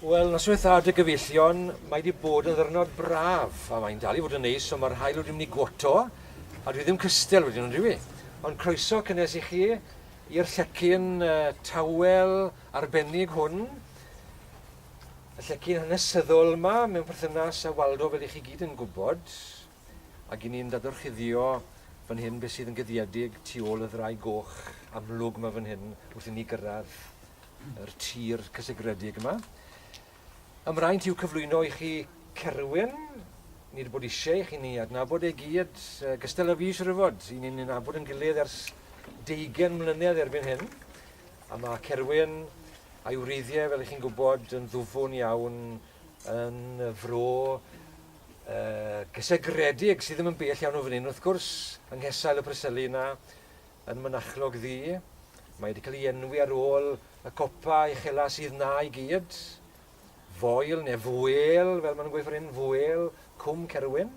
Wel, noswaith a dy gyfeillion, mae wedi bod yn ddyrnod braf, a mae'n dal i fod yn neis, ond mae'r haul wedi mynd i gwoto, a dwi ddim cystel wedyn yn dyw i. Ond croeso cynnes i chi i'r llecyn tawel arbennig hwn, y llecyn hanesyddol yma mewn perthynas â Waldo fel i chi gyd yn gwybod. Ac i ni'n dadorchuddio fan hyn beth sydd yn guddiedig tu ôl y ddraig goch amlwg 'ma fan hyn wrth i ni gyrraedd yr tir cysegredig yma. Ymraint i'w cyflwyno i chi Cerwyn, nid bod eisiau i chi ni adnabod ei gyd, gystal â fi siwr o fod, i ni'n nabod yn gilydd ers deugen mlynedd erbyn hyn, a mae Cerwyn a'i wreiddiau, fel ych chi'n gwybod, yn ddwfwn iawn yn y fro gysegredig sydd ddim yn bell iawn o fan hyn wrth gwrs, yng nghesail y Preseli yna, yn Mynachlog Ddu. Mae wedi cael ei enwi ar ôl y copa uchela sydd na i gyd. Foel neu fwel, fel maen nhw'n gweithio hyn, fwel, cwm Cerwyn.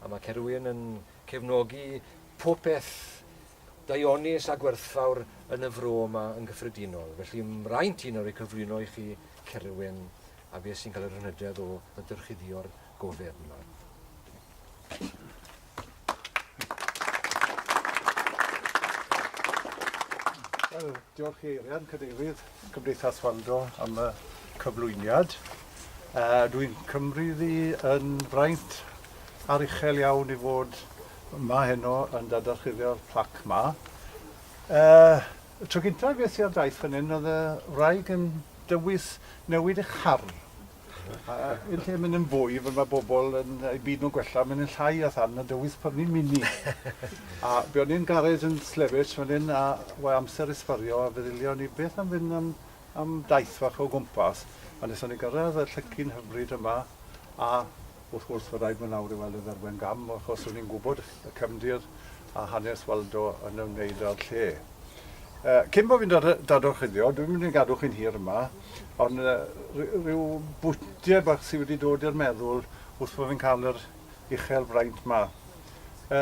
A mae Cerwyn yn cefnogi popeth daionus a gwerthfawr yn y fro yma yn gyffredinol. Felly mae'n rhaid ti nawr ei cyflwyno i chi Cerwyn a beth sy'n cael yr hynhydedd o ddyrchuddio'r gofeb yma. Diolch i Eirian, Cadeirydd Cymdeithas Waldo am y cyflwyniad. Uh, Dwi'n cymryd i yn fraint ar uchel iawn i fod yma heno yn dadarchuddio'r plac yma. Uh, Y tro gyntaf ges i ar daith fan hyn oedd y wraig yn dywys newid ei char. A yn lle mynd yn fwy, fel mae bobl yn eu byd nhw'n gwella, mynd yn llai a than a dywys prynu mini. a be o'n i'n garej yn Slevich fan hyn a wae amser i sbario a feddyliau ni beth am fynd am, am daith fach o gwmpas. A nes o'n i gyrraedd y llycyn hyfryd yma a Wrth gwrs, fe raid fy nawr i weld y dderwen gam, achos rydyn ni'n gwybod y cefndir a hanes Waldo yn ymwneud â'r lle. E, cyn bod fi'n dadorchuddio, dwi'n mynd i gadw chi'n hir yma, ond e, rhyw bwtiau bach sydd wedi dod i'r meddwl wrth bod fi'n cael yr uchel fraint yma. E,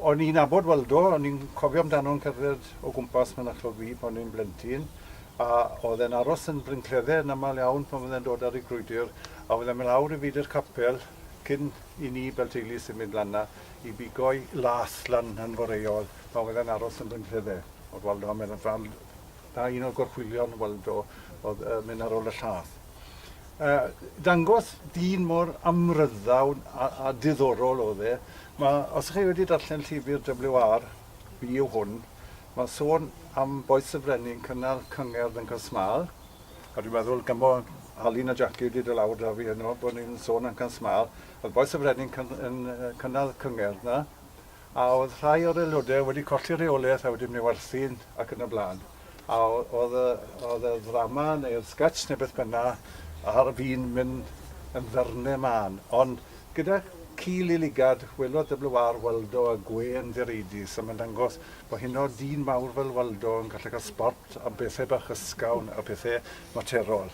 O'n i'n nabod Waldo, o'n i'n cofio amdano'n cerdded o gwmpas Mynachlog Ddu pan o'n i'n blentyn, a oedd e'n aros yn Bryn Cledde yn aml iawn pan fydde'n dod ar ei grwydr, a oedd e'n mynd lawr i Feudwy'r Capel cyn i ni fel teulu symud lan 'na i bigo'i las lan yn foreol pan fydde'n aros yn Bryn Cledde. O'dd Waldo yn mynd ar fand 'na un o'r gorchwylion Waldo o'dd yn mynd ar ôl y llath. dangos dyn mor amryddawn a, a diddorol oedd e. Mae, os chi wedi darllen llyfr WR, fi yw hwn, mae sôn am boes y frenin cynnal cyngerdd yn Casmal, a dwi'n meddwl gymo Alun a Jackie wedi dod lawr da fi heno bod ni'n sôn am Casmal, oedd boes y frenin cyn, yn cynnal cyngerdd na, a oedd rhai o'r aelodau wedi colli rheolaeth a wedi mynd i werthu ac yn y blaen. A oedd y, oedd y ddrama neu'r sketch neu beth bynna ar fi'n mynd yn ddyrne mân. Ond gyda ci liligad, welodd WR Waldo a gwên ddireidus a mae'n dangos bod hyn o dîn mawr fel Waldo yn gallu cael sbort am bethau bach ysgawn a pethau materol.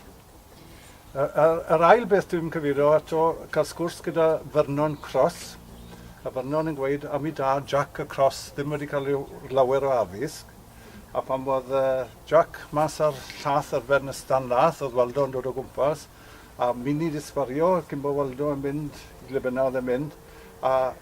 Yr ail beth dwi'n cyfeirio ato, cael sgwrs gyda Vernon Cross, a Vernon yn gweud, am i dad, Jack y Cross, ddim wedi cael ei lawer o addysg, a phan oedd Jack mas ar llath ar ben y stan lath, oedd Waldo yn dod o gwmpas, a mini disfario cyn bod Waldo yn mynd i ble bynnag oedd e'n mynd, a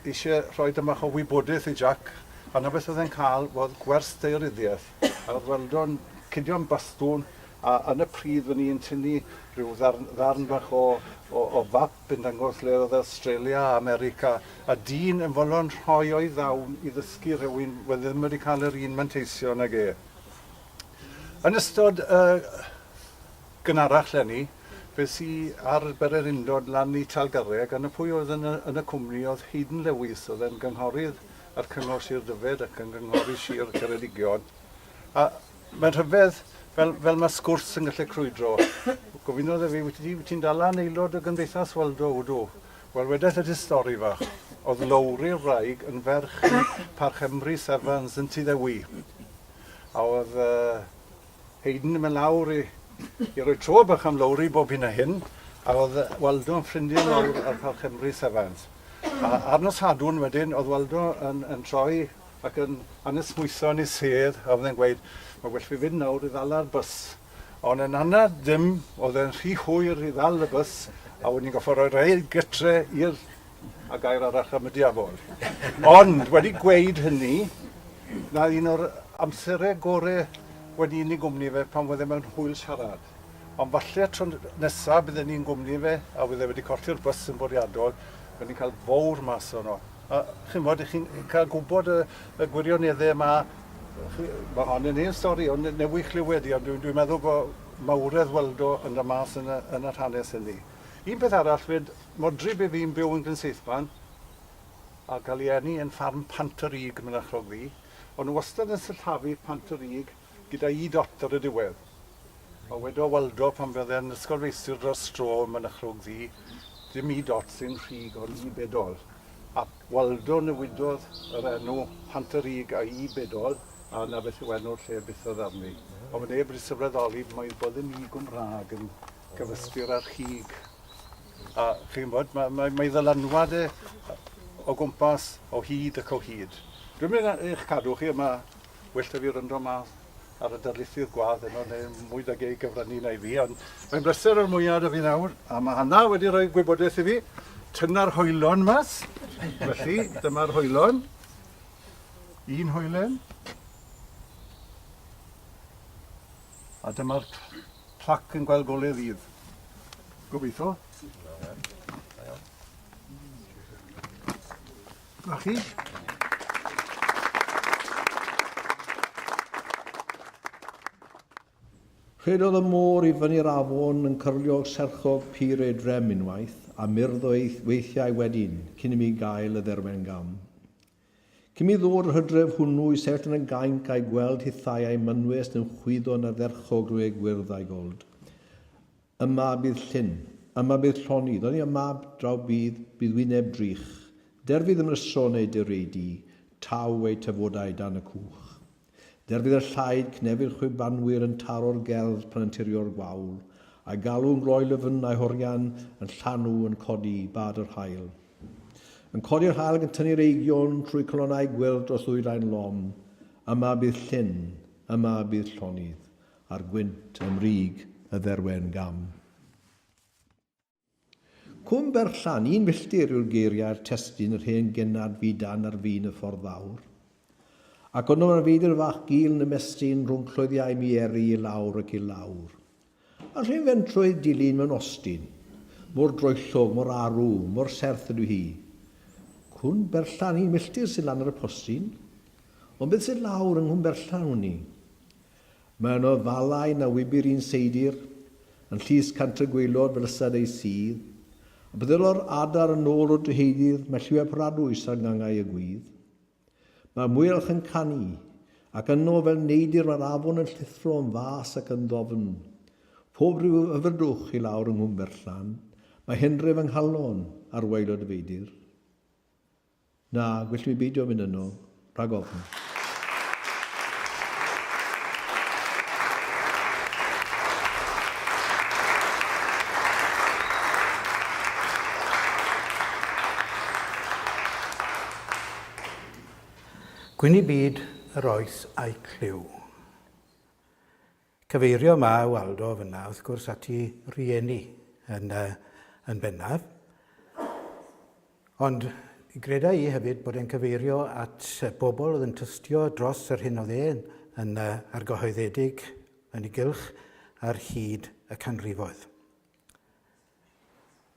eisiau rhoi tamaid bach o wybodaeth i Jack, a 'na beth oedd e'n cael, oedd gwers daearyddiaeth, a oedd Waldo'n cidio am bastwn, A yn y pridd o'n i'n tynnu rhyw ddarn ddarn bach o o o fap yn dangos lle oedd Awstralia a America a dyn yn fodlon rhoi o'i ddawn i ddysgu rhywun oedd ddim wedi cael yr un manteision ag e. Yn ystod y gynharach leni fes i ar bererindod lan i Talgarreg a 'na pwy oedd yn y yn y cwmni oedd Haydn Lewis oedd e'n gynghorydd ar Cyngor Sir Dyfed ac yn gynghorydd Sir Ceredigion a Mae'n rhyfedd fel, fel mae sgwrs yn gallu crwydro. Gofynnodd e fi, wyt ti, ti'n dal lan aelod o Gymdeithas Waldo? Wdw. Wel, wedais y stori fach. Oedd Lowri'r wraig yn ferch i Parch Emrys Evans yn Tŷ Ddewi. A oedd uh, Hayden yn mynd lawr i, i roi tro bach am Lowri bob hyn a hyn. A oedd Waldo yn ffrindiau mawr ar Parch Emrys Evans. A ar nos Sadwn wedyn, oedd Waldo yn, yn troi ac yn anesmwytho yn ei sedd a oedd e'n gweud mae well fi fynd nawr i ddala'r bws ond yn anad ddim oedd e'n rhy hwyr i ddal y bws a wedyn ni'n goffa roi'r rhaid gytre i'r a gair arach am y diafol ond wedi gweud hynny na un o'r amserau gore wedi i ni gwmni fe pan oedd e mewn hwyl siarad Ond falle y tro nesa bydden ni'n gwmni fe a fydd e wedi colli'r bws yn bwriadol, bydden ni'n cael fowr mas ono. A chi'n bod, i chi'n cael gwybod y, y gwirioneddau yma, mae hon yn hen stori, ond newydd chlywed i, ond dwi'n dwi meddwl bod mawredd weld o yn y mas yn y, yn yr hanes hynny. Un peth arall fyd, modryb i fi'n byw yn Gynseithman, a cael ei eni yn ffarm Pant yr Ug, mynachlog fi, ond nhw wastad yn syllafu Pant yr Ug, Gyda i dot ar y diwedd. A wedodd Waldo pan fe oedd e'n ysgol feistr dros dro ym Mynachlog Ddu, dim i dot sy'n rhug ond i bedol. A Waldo newidodd yr enw Pant-y-rug a i bedol a 'na beth yw enw'r lle byth oedd arni. Ond fod neb wedi sylweddoli mai bod yn i Gymraeg yn gyfystyr â rhug. A chi'n bod, mae, mae, mae ddylanwad e o gwmpas, o hyd ac o hyd. Dwi'n mynd eich cadw chi yma Well 'da fi wrando mas ar y darlithydd gwadd heno neu mwy da gei gyfrannu na i fi, ond mae'n bleser o'r mwyaf 'da fi nawr, a mae Hannah wedi rhoi gwybodaeth i fi. Tynna'r hoelon mas. Felly, dyma'r hoelon. Un hoelen. A dyma'r plac yn gweld golau ddydd. Gobeithio. A chi. Rhedodd y môr i fyny'r afon yn cyrlio serchodd pur ei drem unwaith, a murddo ei weithiau wedyn, cyn i mi gael y dderwen gam. Cyn mi ddod yr hydref hwnnw i sefyll yn y gainc a'i gweld hithau a'i mynwes yn chwyddo na dderchog rue gwyrdd a'i gold. Y mab bydd Llyn, y mab bydd Lloni, Ddoni y mab draw bydd, bydd wyneb drych, Der fydd ymryson eu dur eu du, Taw eu tafodau dan y cwch. Der fydd y llaid, cnefyd chwibanwyr Yn taro'r gelf pan anturio'r gwawl, A'i galw yn gloi lyfn, a'i horian Yn llanw, yn codi bad yr haul. Yn codi'r haul ac yn tynnu'r eigion Trwy calonnau gwyrdd dros ddwyrain lom. Yma bydd Llyn, yma bydd Llonydd, Ar gwynt am rig y dderwen gam. Cwm Berllan, un milltir yw'r geiriau'r testun yr hen genad fu dan ar fin y ffordd fawr. Ac ond yma fyd yr fach gul yn ymestyn rhwng cloddiau mi eri i lawr ac i lawr. A'r rhyn fentrwydd dilyn mewn ostyn. Mor droellog, mor arw, mor serth ydw hi. Cwm Berllan, un milltir sydd lan ar y postyn. Ond beth sydd lawr yng Nghwm Berllan wn i? Mae yno falau na wybir un seidr, yn llys Cantref Gwaelod fel ystad ei sudd, a byddelo'r adar yn ôl o dreheudir mae lliwiau poradwys ar gangau y gwydd. Mae'r mwyalch yn canu, ac yno fel neidr mae'r afon yn llithro yn fas ac yn ddofn. Phob rhyw hyfrydwch i lawr yng Nghwmberllan, mae henref yng nghalon ar waelod y feidr. Na, gellwn i beidio mynd yno, rhag ofn. Gwyn i byd yr oes a'i clyw. Cyfeirio Mae Waldo fyna wrth gwrs at i rieni yn, uh, yn bennaf. Ond greda i hefyd bod e'n cyfeirio at bobl oedd yn tystio dros yr hyn oedd e'n yn uh, argyhoeddedig yn ei gylch ar hyd y canrifoedd.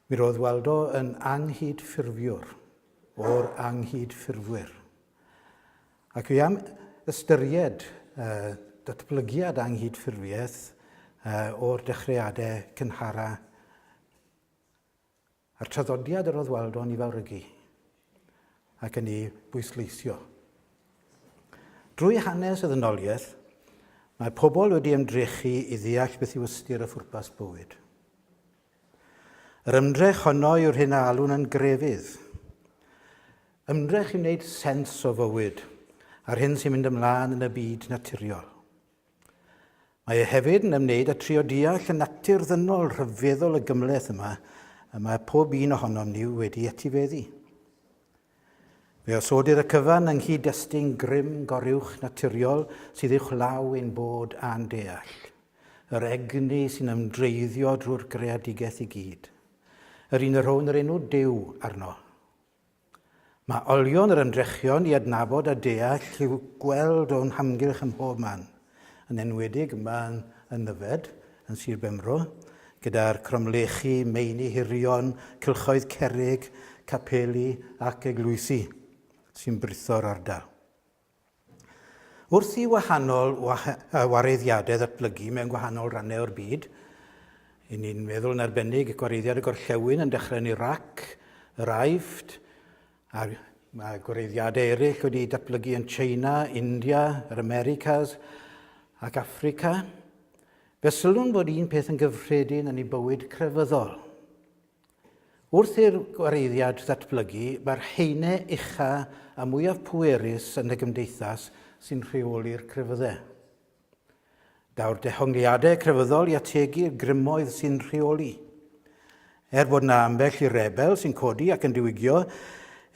Mi roedd Waldo yn anghydffurfiwr o'r anghydffurfwyr. Ac fi am ystyried uh, datblygiad anghydffurfiaeth uh, o'r dechreuadau cynhara a'r traddodiad yr oedd Waldo'n ei fawrygu. ac yn ei bwysleisio. Drwy hanes y ddynoliaeth, mae pobl wedi ymdrechu i ddeall beth yw ystyr a phwrpas bywyd. Yr ymdrech honno yw'r hyn a alwn yn grefydd. Ymdrech i wneud sens o fywyd a'r hyn sy'n mynd ymlaen yn y byd naturiol. Mae e hefyd yn ymwneud â trio deall y natur ddynol rhyfeddol y gymhleth yma y mae pob un ohonom ni wedi etifeddu. Fe osodir y cyfan yng nghyd-destun grym goruwch naturiol sydd uwch law ein bod a'n deall. Yr egni sy'n ymdreiddio drwy'r greadigaeth i gyd. Yr un y rhown yr enw Duw arno. Mae olion yr ymdrechion i adnabod a deall i'w gweld o'n hamgylch ym mhob man, yn enwedig yma yn Nyfed, yn Sir Benfro, gyda'r cromlechi, meini hirion, cylchoedd cerrig, capeli ac eglwysi sy'n britho'r ardal. Wrth i wahanol wareiddiadau ddatblygu mewn gwahanol rannau o'r byd, i ni'n meddwl yn arbennig gwareiddiad y gorllewin yn dechrau yn Iraq, yr Aifft, a mae gwareiddiadau eraill wedi datblygu yn China, India, yr Americas ac Africa. Fe sylwn bod un peth yn gyffredin yn ei bywyd crefyddol. Wrth i'r gwareiddiad ddatblygu, mae'r haenau ucha a mwyaf pwerus yn y gymdeithas sy'n rheoli'r crefyddau. Daw'r dehongliadau crefyddol i ategu'r grymoedd sy'n rheoli. Er bod yna ambell i rebel sy'n codi ac yn diwygio,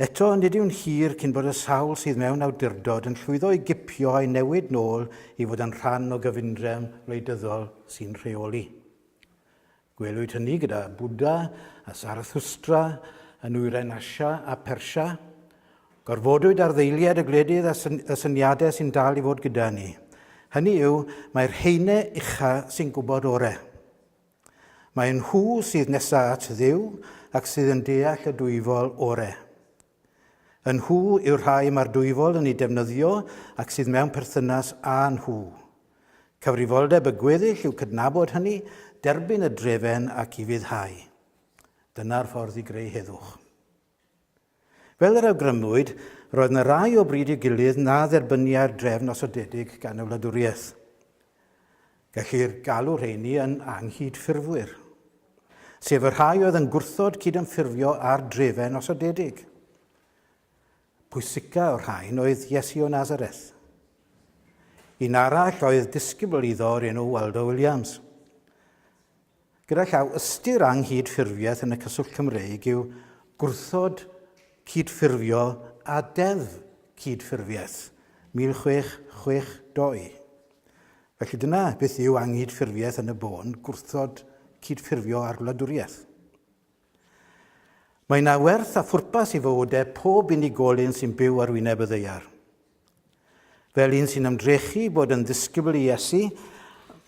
eto nid yw'n hir cyn bod y sawl sydd mewn awdurdod yn llwyddo i gipio a'i newid nôl i fod yn rhan o gyfundrefn wleidyddol sy'n rheoli. Gwelwyd hynny gyda Bwdha a Sarathustra yn nwyrain Asia a Persia. Gorfodwyd ar ddeiliad y gwledydd a syn y syniadau sy'n dal i fod gyda ni. Hynny yw, mae'r heine ucha sy'n gwybod orau. Mae nhw sydd nesaf at ddiw ac sydd yn deall y dwyfol orau. Y nhw yw'r rhai mae'r Dwyfol yn eu defnyddio ac sydd mewn perthynas â nhw. Cyfrifoldeb y gweddill yw cydnabod hynny, derbyn y drefen ac i fuddhau. Dyna'r ffordd i greu heddwch. Fel yr awgrymwyd, roedd yna rai o bryd i'w gilydd na dderbyniai'r drefn osodedig gan y wladwriaeth. Gellir galw rheiny yn anghydffurfwyr, sef y rhai oedd yn gwrthod cydymffurfio â'r drefen osodedig. Pwysica o'r rhain oedd Iesu o Nazareth. Un arall oedd disgybl iddo o'r enw Waldo Williams. Gyda llaw, ystyr anghydffurfiaeth yn y cyswllt Cymreig yw gwrthod cydffurfio â Deddf Cydffurfiaeth 1662. Felly dyna beth yw anghydffurfiaeth yn y bôn, gwrthod cydffurfio â'r wladwriaeth. Mae yna werth a phwrpas i fywydau pob unigolyn sy'n byw ar wyneb y ddeiar. Fel un sy'n ymdrechu bod yn ddisgybl i Iesu,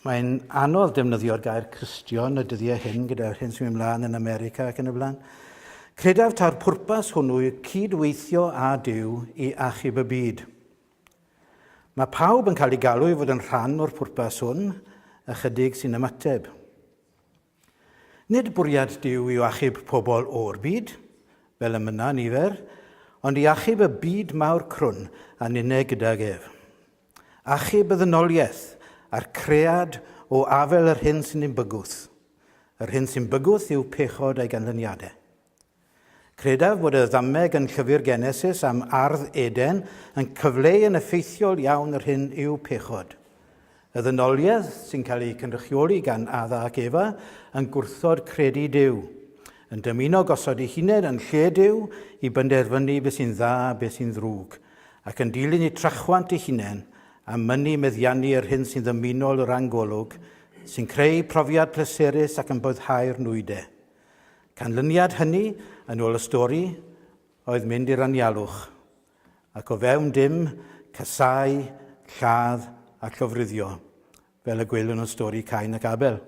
mae'n anodd defnyddio'r gair Cristion y dyddiau hyn gyda'r hyn sy'n mynd mlaen yn America ac yn y blaen. Credaf ta'r pwrpas hwnnw yw cydweithio â Dyw i achub y byd. Mae pawb yn cael ei galw i fod yn rhan o'r pwrpas hwn, ychydig sy'n ymateb. Nid bwriad Duw yw achub pobl o'r byd, fel y mynna nifer, ond i achub y byd mawr crwn a ninne gydag ef. Achub y ddynoliaeth a'r cread o afel yr hyn sy'n ni'n bygwth. Yr hyn sy'n bygwth yw pechod a'i ganlyniadau. Credaf fod y ddameg yn Llyfr Genesis am ardd Eden yn cyfleu yn effeithiol iawn yr hyn yw pechod. Y ddynoliaeth sy'n cael ei cynrychioli gan Adda ac Efa yn gwrthod credu Duw, yn dymuno gosod ei hunain yn lle Duw i benderfynu beth sy'n dda a beth sy'n ddrwg, ac yn dilyn eu trachwant eu hunain a mynnu meddiannu yr hyn sy'n ddymunol o ran golwg, sy'n creu profiad pleserus ac yn boddhau'r nwydau. Canlyniad hynny, yn ôl y stori, oedd mynd i'r anialwch, ac o fewn dim, casáu, lladd a llofruddio, fel y gwelwn yn stori Cain ac Abel.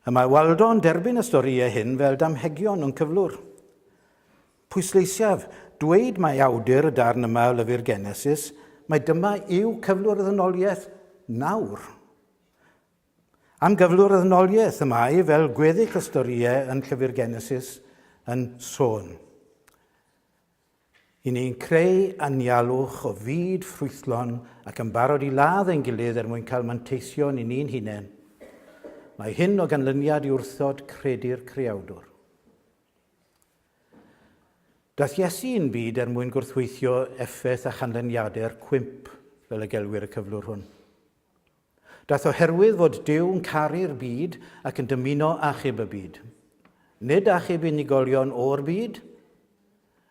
Y mae Waldo yn derbyn y storïau hyn fel damhegion o'n cyflwr. Pwysleisiaf, dweud mae awdur y darn yma o lyfr Genesis, mae dyma yw cyflwr y ddynoliaeth nawr. Am gyflwr y ddynoliaeth y mae, fel gweddill y storïau yn llyfr Genesis, yn sôn. I ni'n creu anialwch o fyd ffrwythlon ac yn barod i ladd ein gilydd er mwyn cael manteisio ni ni'n hunain. Mae hyn o ganlyniad i wrthod credu'r Creawdwr. Dath Iesu i'n byd er mwyn gwrthweithio effaith a chanlyniadau'r cwymp, fel y gelwir y cyflwr hwn. Daeth oherwydd fod Duw yn caru'r byd ac yn dymuno achub y byd. Nid achub unigolion o'r byd,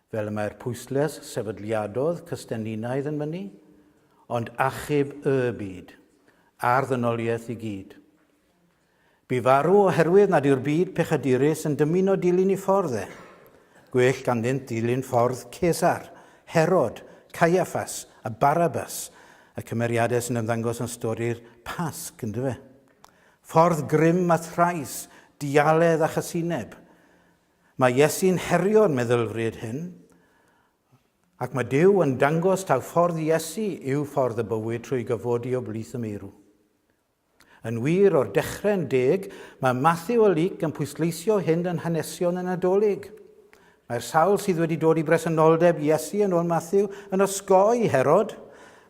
fel y mae'r pwysles sefydliadodd Cystenninaidd yn mynnu, ond achub y byd, a'r ddynoliaeth i gyd. Bu farw oherwydd nad yw'r byd pechadurus yn dymuno dilyn ei ffordd e. Gwell ganddynt ddilyn ffordd Cesar, Herod, Caiaffas a Barabas, y cymeriadau sy'n ymddangos yn stori'r Pasg, yn dyfe? Ffordd grym a thrais, dialedd a chasineb. Mae Iesu'n herio'r meddylfryd hyn, ac mae Dyw yn dangos taw ffordd Iesu yw ffordd y bywyd trwy gyfodi o blith y meirw. Yn wir, o'r dechrau'n deg, mae Mathew a Luc yn pwysleisio hyn yn hanesion y Nadolig. Mae'r sawl sydd wedi dod i bresenoldeb Iesu yn ôl Mathew yn osgoi Herod,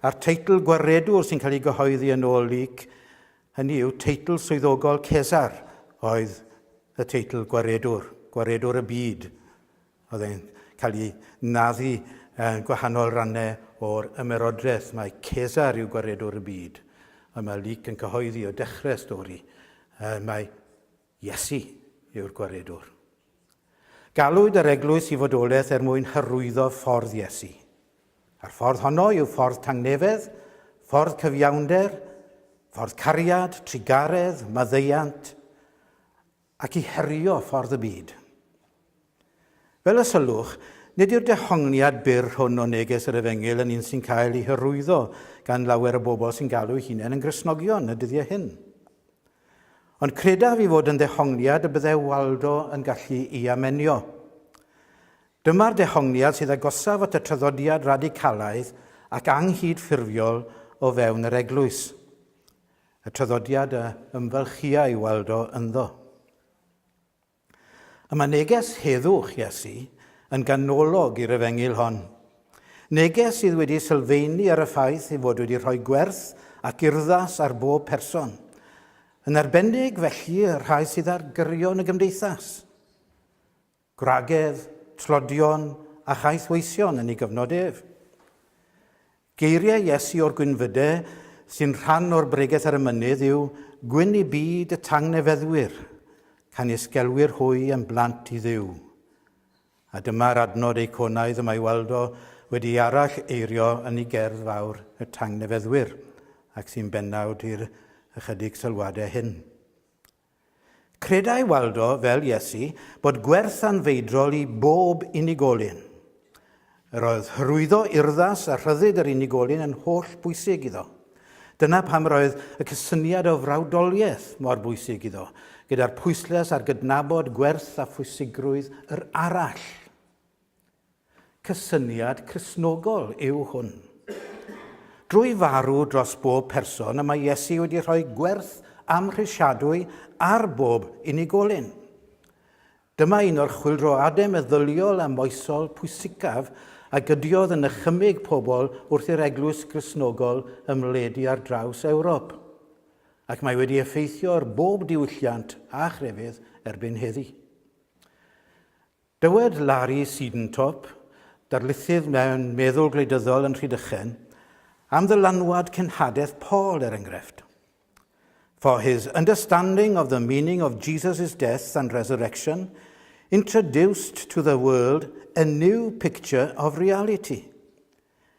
a'r teitl gwaredwr sy'n cael ei gyhoeddi yn ôl Luc, hynny yw teitl swyddogol Cesar, oedd y teitl gwaredwr, gwaredwr y byd, Oedd e'n cael ei naddu yn gwahanol rannau o'r Ymerodraeth. Mae Cesar yw gwaredwr y byd. Ond mae Luc yn cyhoeddi o dechrau'r stori y mae Iesu yw'r gwaredwr. Galwyd yr eglwys i fodolaeth er mwyn hyrwyddo ffordd Iesu. A'r ffordd honno yw ffordd tangnefedd, ffordd cyfiawnder, ffordd cariad, trugaredd, maddeiant, ac i herio ffordd y byd. Fel y sylwch, nid yw'r dehongliad byr hwn o neges yr Efengyl yn un sy'n cael ei hyrwyddo gan lawer o bobl sy'n galw'u hunain yn Gristnogion y dyddiau hyn. Ond credaf i fod yn ddehongliad y byddai Waldo yn gallu i amenio. Dyma'r dehongliad sydd agosaf at y traddodiad radicalaidd ac anghydffurfiol o fewn yr Eglwys. Y traddodiad a ymfalchia i weld o ynddo. Y mae neges heddwch Iesu yn ganolog i'r efengyl hon. Neges sydd wedi sylfeini ar y ffaith ei fod wedi rhoi gwerth ac urddas ar bob person, yn arbennig felly y rhai sydd ar gyrion y gymdeithas. gwragedd, tlodion a chaeth weision yn ei gyfnod ef. Geiriau Iesu o'r Gwynfyde, sy'n rhan o'r Bregeth ar y Mynydd, yw Gwyn i byd y tangnefeddwyr, canys gelwir hwy yn blant i dduw. A dyma'r adnod eiconaidd y mae Waldo wedi ei arall eirio yn ei gerdd fawr y tangnefeddwyr, ac sy'n bennawd i'r ychydig sylwadau hyn. Credai Waldo, fel Iesu, bod gwerth anfeidrol i bob unigolyn. Yr oedd hyrwyddo urddas a rhyddid yr unigolyn yn holl bwysig iddo. Dyna pam yr oedd y cysyniad o frawdoliaeth mor bwysig iddo, gyda'r pwyslais ar gydnabod gwerth a phwysigrwydd yr arall. Cysyniad Cristnogol yw hwn. Drwy farw dros bob person y mae Iesu wedi rhoi gwerth amhrisiadwy ar bob unigolyn. Dyma un o'r chwyldroadau meddyliol a moesol pwysicaf a gydiodd yn nychymyg pobl wrth i'r Eglwys Gristnogol ymledu ar draws Ewrop, ac mae wedi effeithio ar bob diwylliant a chrefydd erbyn heddi. Dywed Larry Siedentop, darlithydd mewn meddwl gwleidyddol yn Rhydychen, am ddylanwad cenhadaeth Paul, er enghraifft, For his understanding of the meaning of Jesus' death and resurrection introduced to the world a new picture of reality.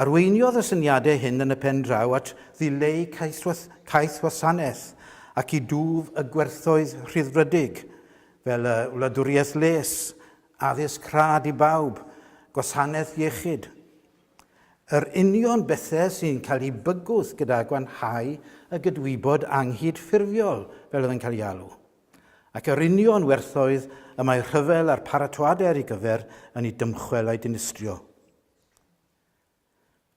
Arweiniodd y syniadau hyn yn y pen draw at ddileu cais wasanaeth ac i dwf y gwerthoedd rhyddfrydig, fel y wladwriaeth les, addysg rhad i bawb, gwasanaeth iechyd. Yr union bethau sy'n cael eu bygwth gyda gwanhau y gydwybod anghydffurfiol, fel oedd yn cael ei alw, ac yr union werthoedd y mae rhyfel a'r paratoadau ar ei gyfer yn eu dymchwel a'u dinistrio.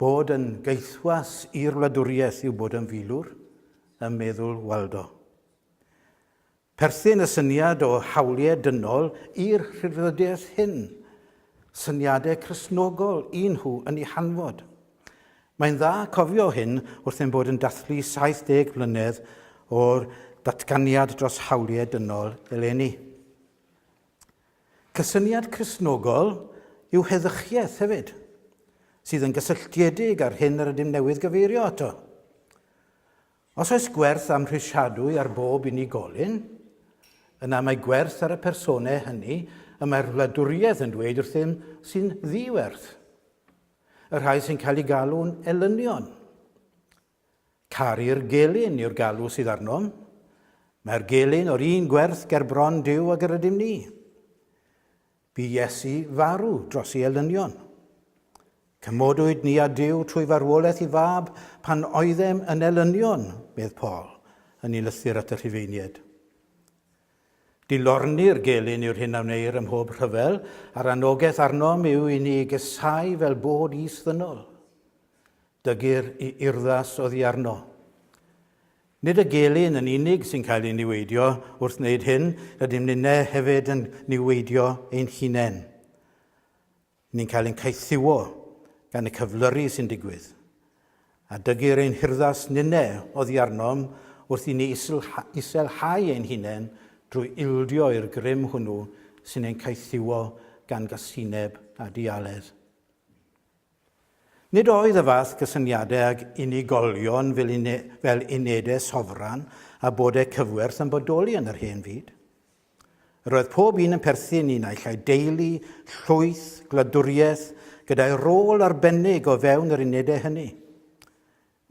Bod yn gaethwas i'r wladwriaeth yw bod yn filwr, ym meddwl Waldo. Perthyn y syniad o hawliau dynol i'r rhyddfrydiaeth hyn. Syniadau Cristnogol un nhw yn ei hanfod. Mae'n dda cofio hyn wrth ein bod yn dathlu 70 mlynedd o'r datganiad dros hawliau dynol eleni. Cysyniad Cristnogol yw heddychiaeth hefyd, sydd yn gysylltiedig â'r hyn yr ydym newydd gyfeirio ato. Os oes gwerth amhrisiadwy ar bob unigolyn, yna mae gwerth ar y personau hynny y mae'r wladwriaeth yn dweud wrthym sy'n ddiwerth, y rhai sy'n cael eu galw'n elynion. Caru'r gelyn yw'r galw sydd arnom. Mae'r gelyn o'r un gwerth ger bron Duw ag yr ydym ni. Bu Iesu farw dros ei elynion. Cymodwyd ni a Duw trwy farwolaeth i fab pan oeddem yn elynion, medd Paul, yn ei lythyr at y Rhufeinied. Dilorni'r gelyn yw'r hyn a wneir ym mhob rhyfel, a'r anogaeth arnom yw i ni gesau fel bod is ddynol. Dygir i urddas oddi arno. Nid y gelyn yn unig sy'n cael ei niweidio, wrth wneud hyn, rydym ninnau hefyd yn niweidio ein hunain. Ni'n cael ein caethiwo gan y cyflyru sy'n digwydd. A dygir ein hurddas ninnau oddi arnom wrth i ni iselhau ein hunain drwy ildio i'r grym hwnnw sy'n ein caethiwo gan gasineb a dialedd. Nid oedd y fath gysyniadau ag unigolion fel unedau sofran a bodau cyfwerth yn bodoli yn yr hen fyd. Yr oedd pob un yn perthyn i naill ai deulu, llwyth, gwladwriaeth, gyda'i rôl arbennig o fewn yr unedau hynny.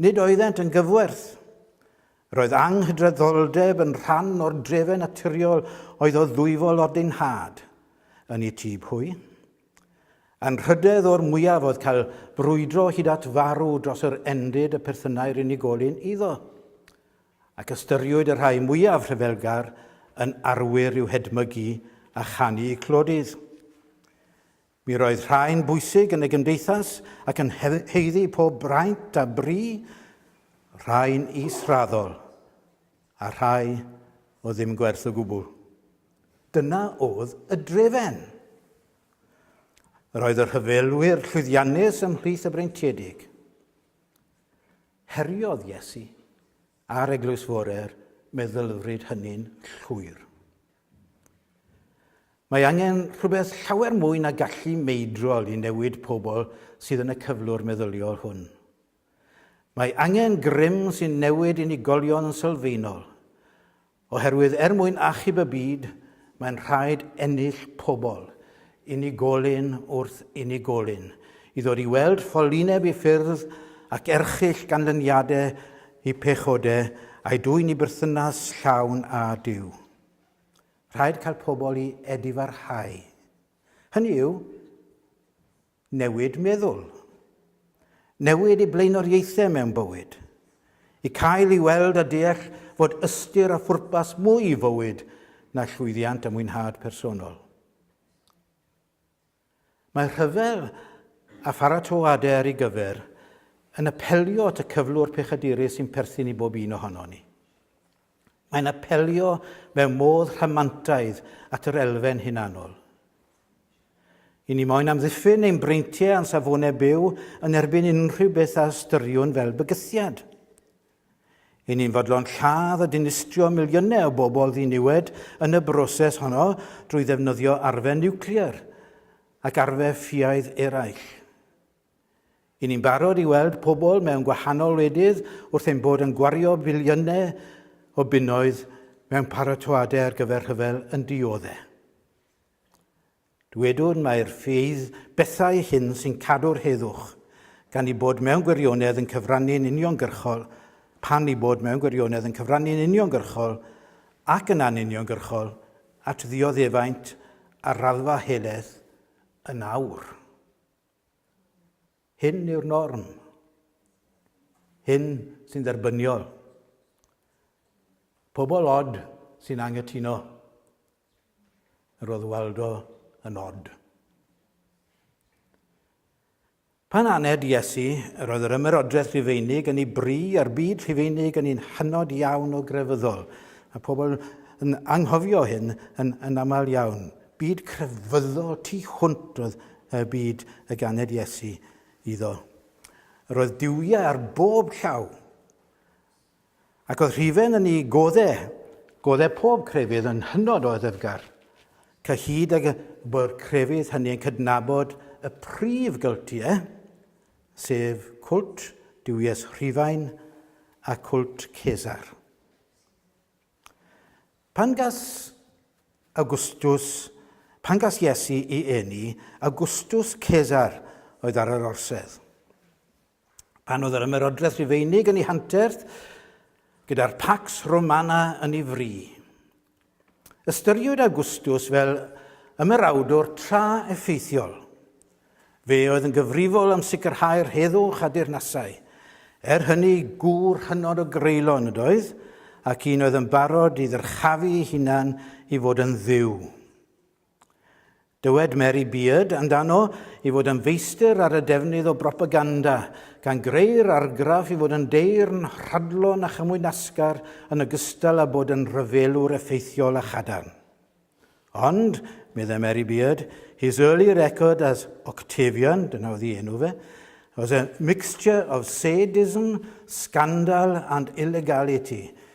Nid oeddent yn gyfwerth. Roedd anghydraddoldeb yn rhan o'r drefen naturiol oedd o ddwyfol ordinhad yn y tŷ pwy. Anrhydedd o'r mwyaf oedd cael brwydro hyd at farw dros yr endid y perthynai'r unigolyn iddo, ac ystyriwyd y rhai mwyaf rhyfelgar yn arwyr i'w hedmygu a chanu clodydd. Mi roedd rhai'n bwysig yn y gymdeithas ac yn haeddu pob braint a bri, rhai'n israddol, a rhai o ddim gwerth o gwbl. Dyna oedd y drefen. Yr oedd y rhyfelwyr llwyddiannus ymhlith y breintiedig. Heriodd Iesu a'r Eglwys Fore'r meddylfryd hynny'n llwyr. Mae angen rhywbeth llawer mwy na gallu meidrol i newid pobl sydd yn y cyflwr meddyliol hwn. Mae angen grym sy'n newid unigolion yn sylfaenol, oherwydd er mwyn achub y byd, mae'n rhaid ennill pobl unigolyn wrth unigolyn i ddod i weld ffolineb i ffyrdd ac erchyll ganlyniadau i pechodau a'i dwyn i berthynas llawn â Duw. Rhaid cael pobl i edifarhau. Hynny yw, newid meddwl. Newid i blaenoriaethau mewn bywyd. I cael i weld a deall fod ystyr a phwrpas mwy i fywyd na llwyddiant a mwynhad personol. Mae rhyfel a pharatoadau ar ei gyfer yn apelio at y cyflwr pechadurus sy'n perthyn i bob un ohono ni. Mae'n apelio mewn modd rhamantaidd at yr elfen hunanol. I ni moyn amddiffyn ein breintiau a'n safonau byw yn erbyn unrhyw beth a ystyriwn fel bygythiad. I ni'n fodlon lladd a dinistrio miliynau o bobl ddiniwed yn y broses honno drwy ddefnyddio arfer niwclear ac arfer ffiaidd eraill. I ni'n barod i weld pobl mewn gwahanol wledydd wrth ein bod yn gwario biliynau o bunnoedd mewn paratoadau ar gyfer rhyfel yn dioddau. Dywedwn mai'r ffydd bethau hyn sy'n cadw'r heddwch, gan ei bod mewn gwirionedd yn cyfrannu'n uniongyrchol, pan ei bod mewn gwirionedd yn cyfrannu'n uniongyrchol ac yn anuniongyrchol at ddioddefaint ar raddfa helaeth yn awr. Hyn yw'r norm. Hyn sy'n dderbyniol. Pobl od sy'n anghytuno. Roedd Waldo yn od. Pan aned Iesu, yr oedd yr ymerodraeth Rufeinig yn ei bri a'r byd Rhufeinig yn un hynod iawn o grefyddol. Mae pobl yn anghofio hyn yn, yn aml iawn. Byd crefyddol tu hwnt oedd y byd y ganed Iesu iddo. Yr oedd diwiau ar bob llaw. Ac oedd Rhufen yn ei godde, godde pob crefydd yn hynod o ddyfgar, cyhyd ag y bo'r crefydd hynny yn cydnabod y prif gyltie, sef cwlt duwies Rhufain a cwlt Cesar. Pan gas Augustus, pan gas Iesu i eni, Augustus Cesar oedd ar yr orsedd. Pan oedd yr ymerodraeth Rufeinig yn ei hanterth, gyda'r Pax Romana yn ei fri. Ystyriwyd Augustus fel ymerawdwr tra effeithiol. Fe oedd yn gyfrifol am sicrhau'r heddwch a deyrnasau. Er hynny, gŵr hynod o greulon ydoedd, ac un oedd yn barod i ddyrchafu ei hunan i fod yn dduw. Dywed Mary Beard amdano i fod yn feistr ar y defnydd o bropaganda, gan greu'r argraff i fod yn deyrn rhadlon a chymwyd nasgar yn ogystal â bod yn rhyfelwr effeithiol a chadarn. Ond, meddai Mary Beard, his early record as Octavian, dyna oedd ei enw fe, was a mixture of sadism, scandal and illegality.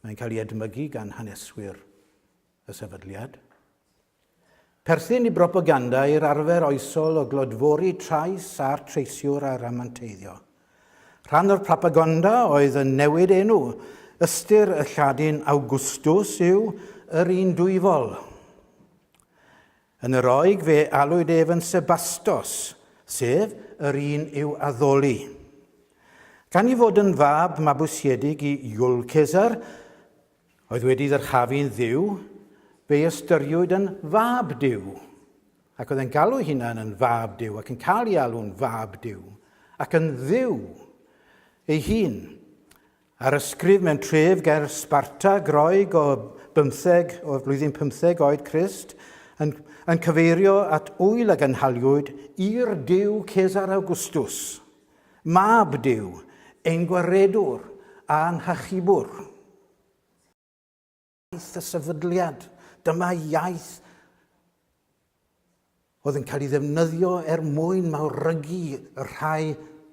Mae'n cael ei edmygu gan haneswyr y sefydliad. Perthyn i bropaganda i'r arfer oesol o glodfori trais a'r treisiwr a ramanteiddio. Rhan o'r propagonda oedd yn newid enw. Ystyr y Lladin Augustus yw yr un dwyfol. Yn y Roeg fe alwyd ef yn Sebastos, sef yr un i'w addoli. Gan ei fod yn fab mabwysiedig i Iul Cesar, oedd wedi ddyrchafu'n dduw, fe'i ystyriwyd yn fab duw, ac oedd e'n galw'i hunan yn fab duw ac yn cael ei alw'n fab duw, ac yn dduw ei hun. Ar ysgrif mewn tref ger Sparta, Groeg o bymtheg, o'r flwyddyn pymtheg oed Crist, yn, yn cyfeirio at ŵyl a gynhaliwyd i'r diw Cesar Awgwstws, mab Duw, ein gwaredwr a'n hachubwr. Iaith y sefydliad. Dyma iaith oedd yn cael ei ddefnyddio er mwyn mawrygu y rhai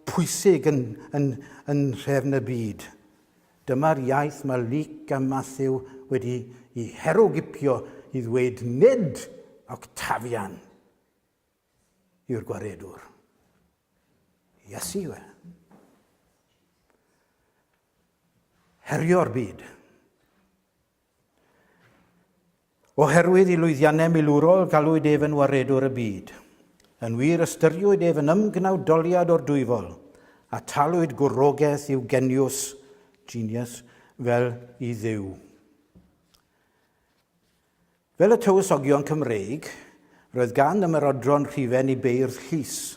pwysig yn, yn, yn nhrefn y byd. Dyma'r iaith mae Luc a Matthew wedi i herwgipio i ddweud nid Octavian. yw'r gwaredwr. Iesu yw e. Herio'r byd. Oherwydd i lwyddiannau milwrol galwyd ef yn waredwr y byd. Yn wir ystyriwyd ef yn ymgnawdoliad o'r dwyfol, a talwyd gwrogaeth i'w geniws, genius, fel i ddew. Fel y Tywysogion Cymreig, roedd gan ymerodron rhifen i beirdd llys,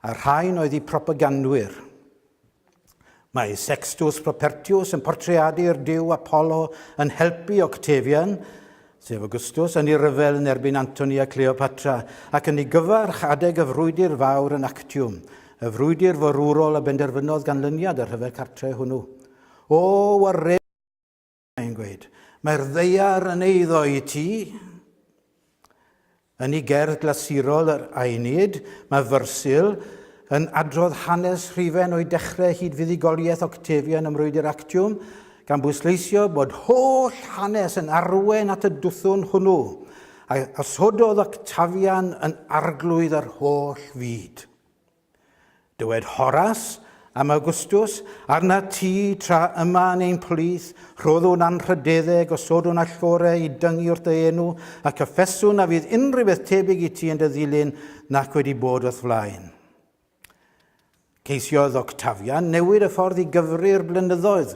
a'r rhain oedd eu propagandwyr. Mae Sextus Propertius yn portreadu'r diw Apollo yn helpu Octavian, sef Augustus, yn ei ryfel yn erbyn Antoni a Cleopatra, ac yn ei gyfarch adeg y frwydr fawr yn Actium, y frwydr forwrol a benderfynodd ganlyniad y rhyfel cartre hwnnw. O, war mae'n gweud. Mae'r ddeiar yn eiddo i ti. Yn ei gerdd glasurol yr Aenid, mae Fyrsil yn adrodd hanes rhifen o'i dechrau hyd fuddugoliaeth Octavian ym Mrwydr Actiwm, gan bwysleisio bod holl hanes yn arwen at y dwthwn hwnnw, a osododd Octavian yn arglwydd yr holl fyd. Dywed Horas, am Awgwstws, Arna ti, tra yma yn ein plith, rhoddwn anrhydedde, gosodwn allgore i dyngu wrth dy enw, a cyffeswn na fydd unrhyw beth tebyg i ti yn dy ddilyn nac wedi bod wrth flaen. Ceisiodd Octavian newid y ffordd i gyfri'r blynyddoedd.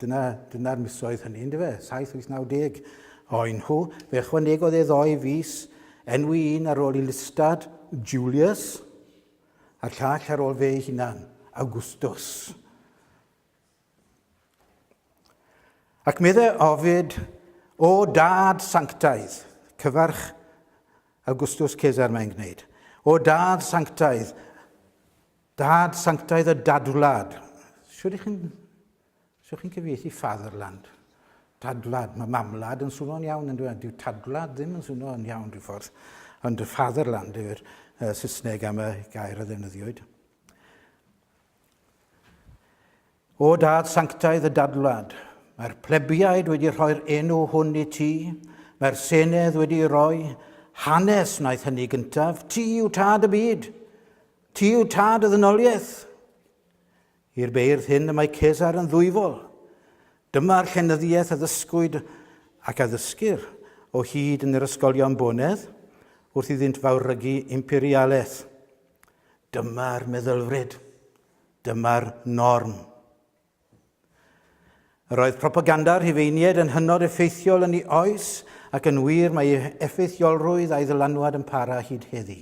Dyna, dyna'r misoedd hynny, yndyfe? Saith, wyth, naw deg oen nhw. Fe ychwanegodd e ddoi fis, enwi un ar ôl i listad, Julius, a'r llall ar ôl fe ei hunan, Augustus. Ac meddai ofid, o dad sanctaidd, cyfarch Augustus Caesar mae'n gwneud, o dad sanctaidd, Dad sanctaidd a dadwlad. Siwr i chi'n siwr chi'n cyfieithu fatherland. Dadwlad, mae mamwlad yn swnio'n iawn yn dweud, dyw tadwlad ddim yn swnio'n iawn rhyw ffordd, ond y fatherland yw'r uh, Saesneg am y gair a ddefnyddiwyd. O dad sanctaidd y dadwlad, mae'r plebiaid wedi rhoi'r enw hwn i ti, mae'r senedd wedi roi hanes wnaeth hynny gyntaf, ti yw tad y byd, Ti yw tad y ddynoliaeth. I'r beirdd hyn y mae Cesar yn ddwyfol. Dyma'r llenyddiaeth a ddysgwyd ac a ddysgir o hyd yn yr ysgolion bonedd wrth iddynt fawrygu imperialaeth. Dyma'r meddylfryd. Dyma'r norm. Yr oedd propaganda rhifeiniaid yn hynod effeithiol yn ei oes ac yn wir mae ei effeithiolrwydd a'i ddylanwad yn para hyd heddi.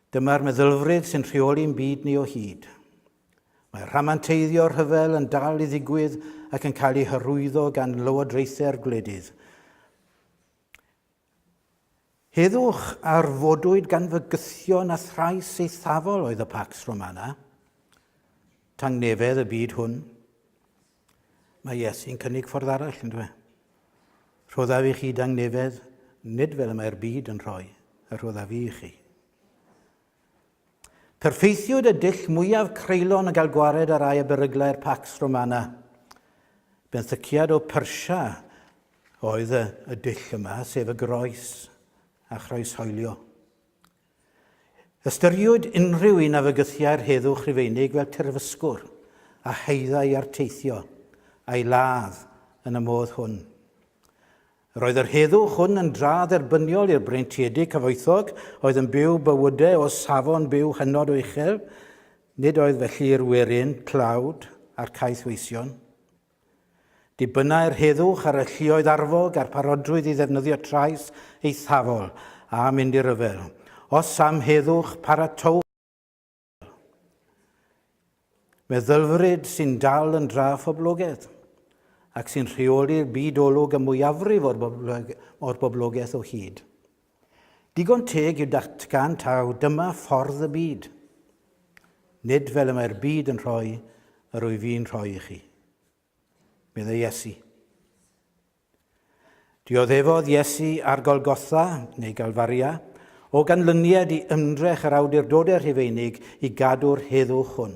Dyma'r meddylfryd sy'n rheoli'n byd ni o hyd. Mae rhamanteiddio rhyfel yn dal i ddigwydd ac yn cael ei hyrwyddo gan lywodraethau'r gwledydd. Heddwch ar fodwyd gan fygythion a thrais eithafol oedd y Pax Romana, tangnefedd y byd hwn. Mae Iesu'n cynnig ffordd arall, yn dwe. Rhoddaf i chi dangnefedd, nid fel y mae'r byd yn rhoi, y rhoddaf i chi. Perffeithiwyd y dull mwyaf creulon y gael gwared ar rai y beryglau'r Pax Romana. Benthyciad o Persia oedd y, y dull yma, sef y groes a chroeshoelio. Ystyriwyd unrhyw un a fygythiai'r heddwch Rhufeinig fel terfysgwr a haeddai arteithio a'i ladd yn y modd hwn. Yr oedd yr heddwch hwn yn dra dderbyniol i'r breintiedig cyfoethog oedd yn byw bywydau o safon byw hynod o uchel, nid oedd felly i'r werin, tlawd, a'r caethweision. Dibynnai'r heddwch ar y lluoedd arfog a'r parodrwydd i ddefnyddio trais eithafol a mynd i ryfel. Os am heddwch, paratowch meddylfryd sy'n dal yn dra phoblogaidd ac sy'n rheoli'r byd olwg y mwyafrif o'r boblogaeth o hyd. Digon teg yw datgan taw dyma ffordd y byd. Nid fel y mae'r byd yn rhoi yr wyf i'n rhoi i chi. Meddai Iesu. Dioddefodd Iesu ar Golgotha, neu Galfaria, o ganlyniad i ymdrech yr awdurdodau rhufeinig i gadw'r heddwch hwn.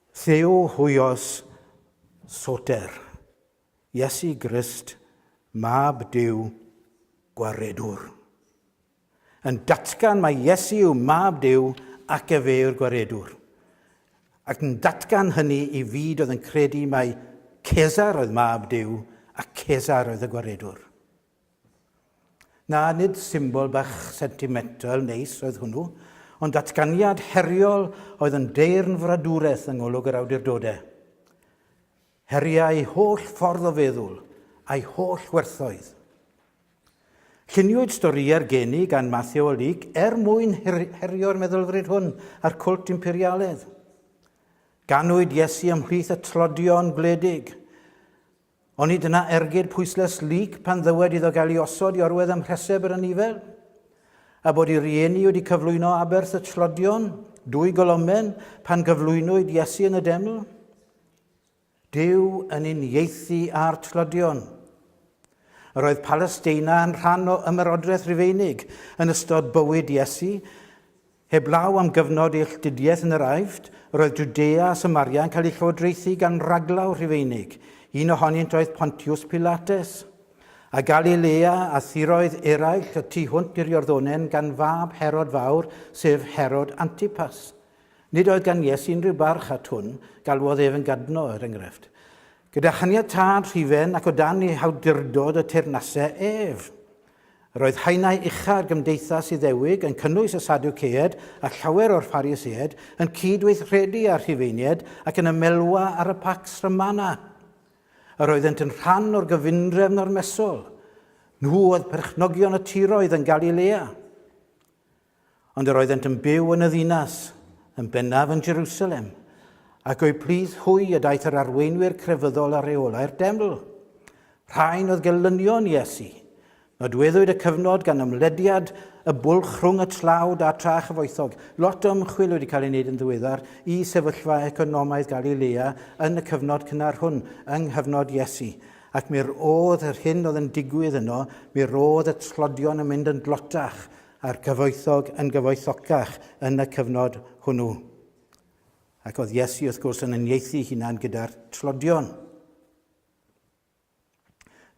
Llew huios Soter, Iesu Grist, Mab Duw, Gwaredwr. Yn datgan mae Iesu yw Mab Duw ac efe yw'r Gwaredwr. Ac yn datgan hynny i fyd oedd yn credu mae Cesar oedd Mab Duw a Cesar oedd y Gwaredwr. Na, nid symbol bach sentimental neis oedd hwnnw, ond datganiad heriol oedd yn deyrn fradwraeth yng ngolwg yr awdurdodau. Heriai holl ffordd o feddwl, a'i holl werthoedd. Lluniwyd storïau'r geni gan Matthew o Leek er mwyn herio'r meddylfryd hwn a'r cwlt imperialedd. Ganwyd Iesu ymhlith y tlodion gwledig, Oni dyna ergyd pwyslais Luc pan ddywed iddo gael ei osod i orwedd ym mhreseb yr anifail? A bod ei rieni wedi cyflwyno aberth y tlodion, dwy golomen, pan gyflwynwyd Iesu yn y deml? Dyw yn uniaethu â'r tlodion. Yr oedd Palesteina yn rhan o ymerodraeth Rufeinig yn ystod bywyd Iesu, Heblaw am gyfnod eilltudiaeth yn yr Aifft, roedd Jwdea a Samaria yn cael eu llywodraethu gan raglaw Rhufeinig, un ohonynt oedd Pontiws Pilates. A Galilea a thiroedd eraill y tu hwnt i'r Iorddonen gan fab Herod Fawr, sef Herod Antipas. Nid oedd gan Iesu unrhyw barch at hwn, galwodd ef yn gadno, er enghraifft. Gyda chaniatâd rhufen ac o dan ei hawdurdod y teyrnasai ef. Roedd haenau ucha'r Gymdeithas Iddewig yn cynnwys y Sadwceaid a llawer o'r Phariseaid, yn cyd-weithredu â'r Rhufeiniaid ac yn ymelwa ar y Pax Romana. Yr oeddent yn rhan o'r gyfundrefn ormesol. Nhw oedd perchnogion y tiroedd yn Galilea. Ond yr oeddent yn byw yn y ddinas, yn bennaf yn Jerusalem, ac o'u plith hwy y daeth yr arweinwyr crefyddol a reolau'r deml. Rhain oedd gelynion Iesu. Nodweddwyd y cyfnod gan ymlediad y bwlch rhwng y tlawd a tra chyfoethog. Lot o ymchwil wedi cael ei wneud yn ddiweddar i sefyllfa economaidd Galilea yn y cyfnod cynnar hwn, yng nghyfnod Iesu. Ac mi'r oedd yr hyn oedd yn digwydd yno, mi'r oedd y tlodion yn mynd yn dlotach, a'r cyfoethog yn gyfoethocach yn y cyfnod hwnnw. Ac oedd Iesu, wrth gwrs, yn uniaethu hunan gyda'r tlodion.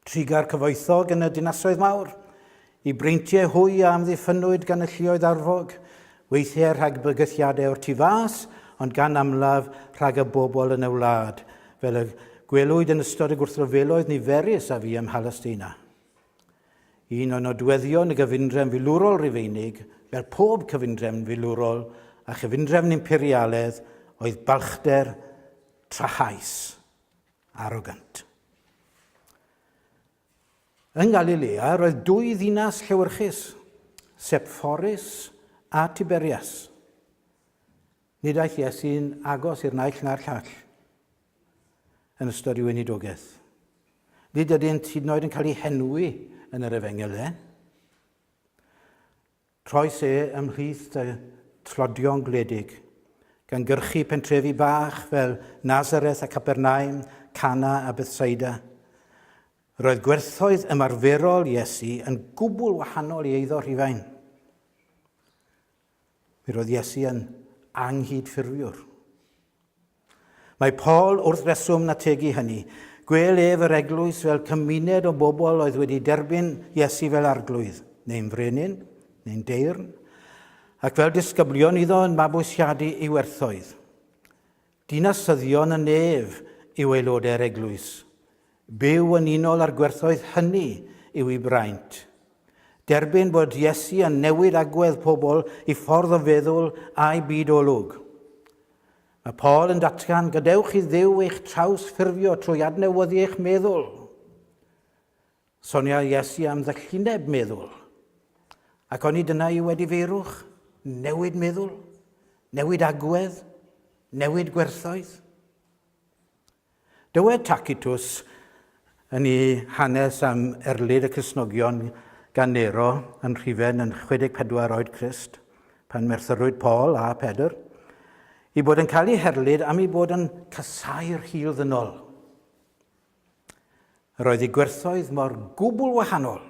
Triga'r cyfoethog yn y dinasoedd mawr, i breintiau hwy a amddiffynwyd gan y llioedd arfog, weithiau rhag bygythiadau o'r tu fas, ond gan amlaf rhag y bobl yn y wlad, fel y gwelwyd yn ystod y gwrthryfeloedd niferus a fi ym Mhalesteina. Un o nodweddion y gyfundrefn filwrol Rufeinig, fel pob cyfundrefn filwrol a chyfundrefn imperialedd, oedd balchder trahaus, arrogant. Yng Ngalilea roedd dwy ddinas llewyrchus, Sepphoris a Tiberias. Nid aeth Iesu'n agos i'r naill na'r llall yn ystod ei weinidogaeth. Nid ydynt hyd yn oed yn cael eu henwi yn yr efengyl e. Troes e ymhlith y tlodion gwledig, gan gyrchu pentrefi bach fel Nazareth a Capernaum, Cana a Bethsaida. Roedd gwerthoedd ymarferol Iesu yn gwbl wahanol i eiddo Rhufain. Mi roedd Iesu yn anghydffurfiwr. Mae Paul wrth reswm yn ategu hynny. Gwel ef yr eglwys fel cymuned o bobl oedd wedi derbyn Iesu fel arglwydd, neu'n frenin, neu'n deyrn, ac fel disgyblion iddo yn mabwysiadu ei werthoedd. Dinasyddion y nef yw aelodau'r eglwys. Byw yn unol â'r gwerthoedd hynny yw ei braint. Derbyn bod Iesu yn newid agwedd pobl i ffordd o feddwl a'u byd olwg. Mae Paul yn datgan, gadewch i Dduw eich traws ffurfio trwy adnewyddu eich meddwl. Sonia Iesu am ddylluneb meddwl. Ac oni dyna yw wedi feirwch, newid meddwl, newid agwedd, newid gwerthoedd? Dywed Tacitus yn ei hanes am erlid y Cresnogion gan Nero yn rhifen yn 64 oed Crist, pan merthyrwyd Paul a Pedr, i bod yn cael ei herlid am ei bod yn casau'r hil ddynol. Yr oedd ei gwerthoedd mor gwbl wahanol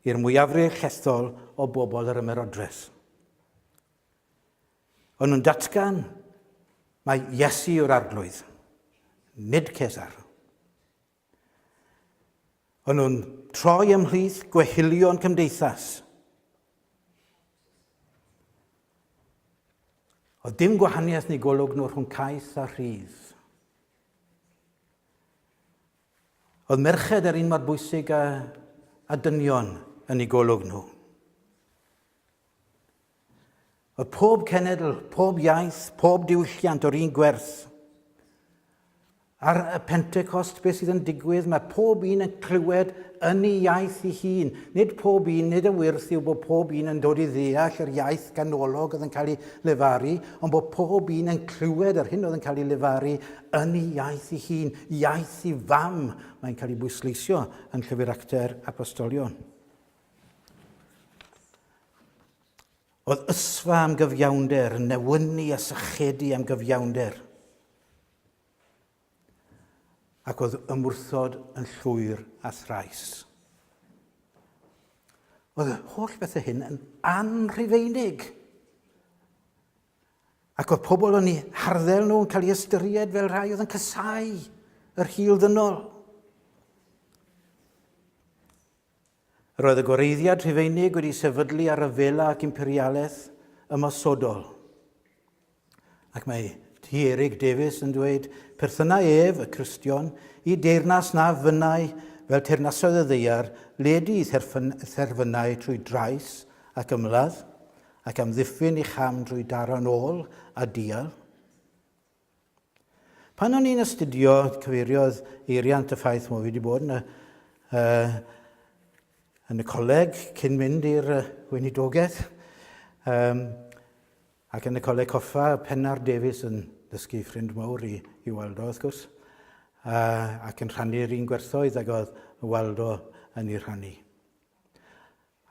i'r mwyafrif llethol o bobl yr ymerodres. O'n nhw'n datgan mae Iesu yw'r arglwydd, nid Cesar. O'n nhw'n troi ymhlith gwehilion cymdeithas. Oedd dim gwahaniaeth neu golwg nhw rhwng caeth a rhydd. Oedd merched yr un mor bwysig a, a dynion yn ei golwg nhw. Oedd pob cenedl, pob iaith, pob diwylliant o'r un gwerth. Ar y Pentecost, beth sydd yn digwydd, mae pob un yn clywed yn ei iaith ei hun. Nid pob un, nid y wyrth yw bod pob un yn dod i ddeall yr iaith ganolog oedd yn cael ei lefaru, ond bod pob un yn clywed yr hyn oedd yn cael ei lefaru yn ei iaith ei hun, iaith ei fam, mae'n cael ei bwysleisio yn Llyfr Actau'r Apostolion. Oedd ysfa am gyfiawnder, yn newynu a sychedu am gyfiawnder. ac oedd ymwrthod yn llwyr a thrais. Oedd y holl bethau hyn yn anrhifeinig. Ac oedd pobl yn ei harddel nhw yn cael ei ystyried fel rhai oedd yn casau yr hil ddynol. Roedd y Gwareiddiad Rhufeinig wedi sefydlu ar ryfela ac imperialaeth ymosodol. Ac mae T. Eric Davies yn dweud, perthynai ef, y Cristion, i deyrnas na fynnai fel teyrnasoedd y ddeiar, ledu i therfynau trwy drais ac ymladd, ac amddiffyn i cham drwy daro'n ôl a dial. Pan o'n i'n astudio, cyfeiriodd eiriau at y ffaith mod fi wedi bod yn y, uh, yn y coleg cyn mynd i'r uh, weinidogaeth. Um, ac yn y coleg coffa, Pennar Davies yn dysgu ffrind mawr i, i Waldo, wrth gwrs, uh, ac yn rhannu'r un gwerthoedd ag oedd Waldo yn ei rhannu.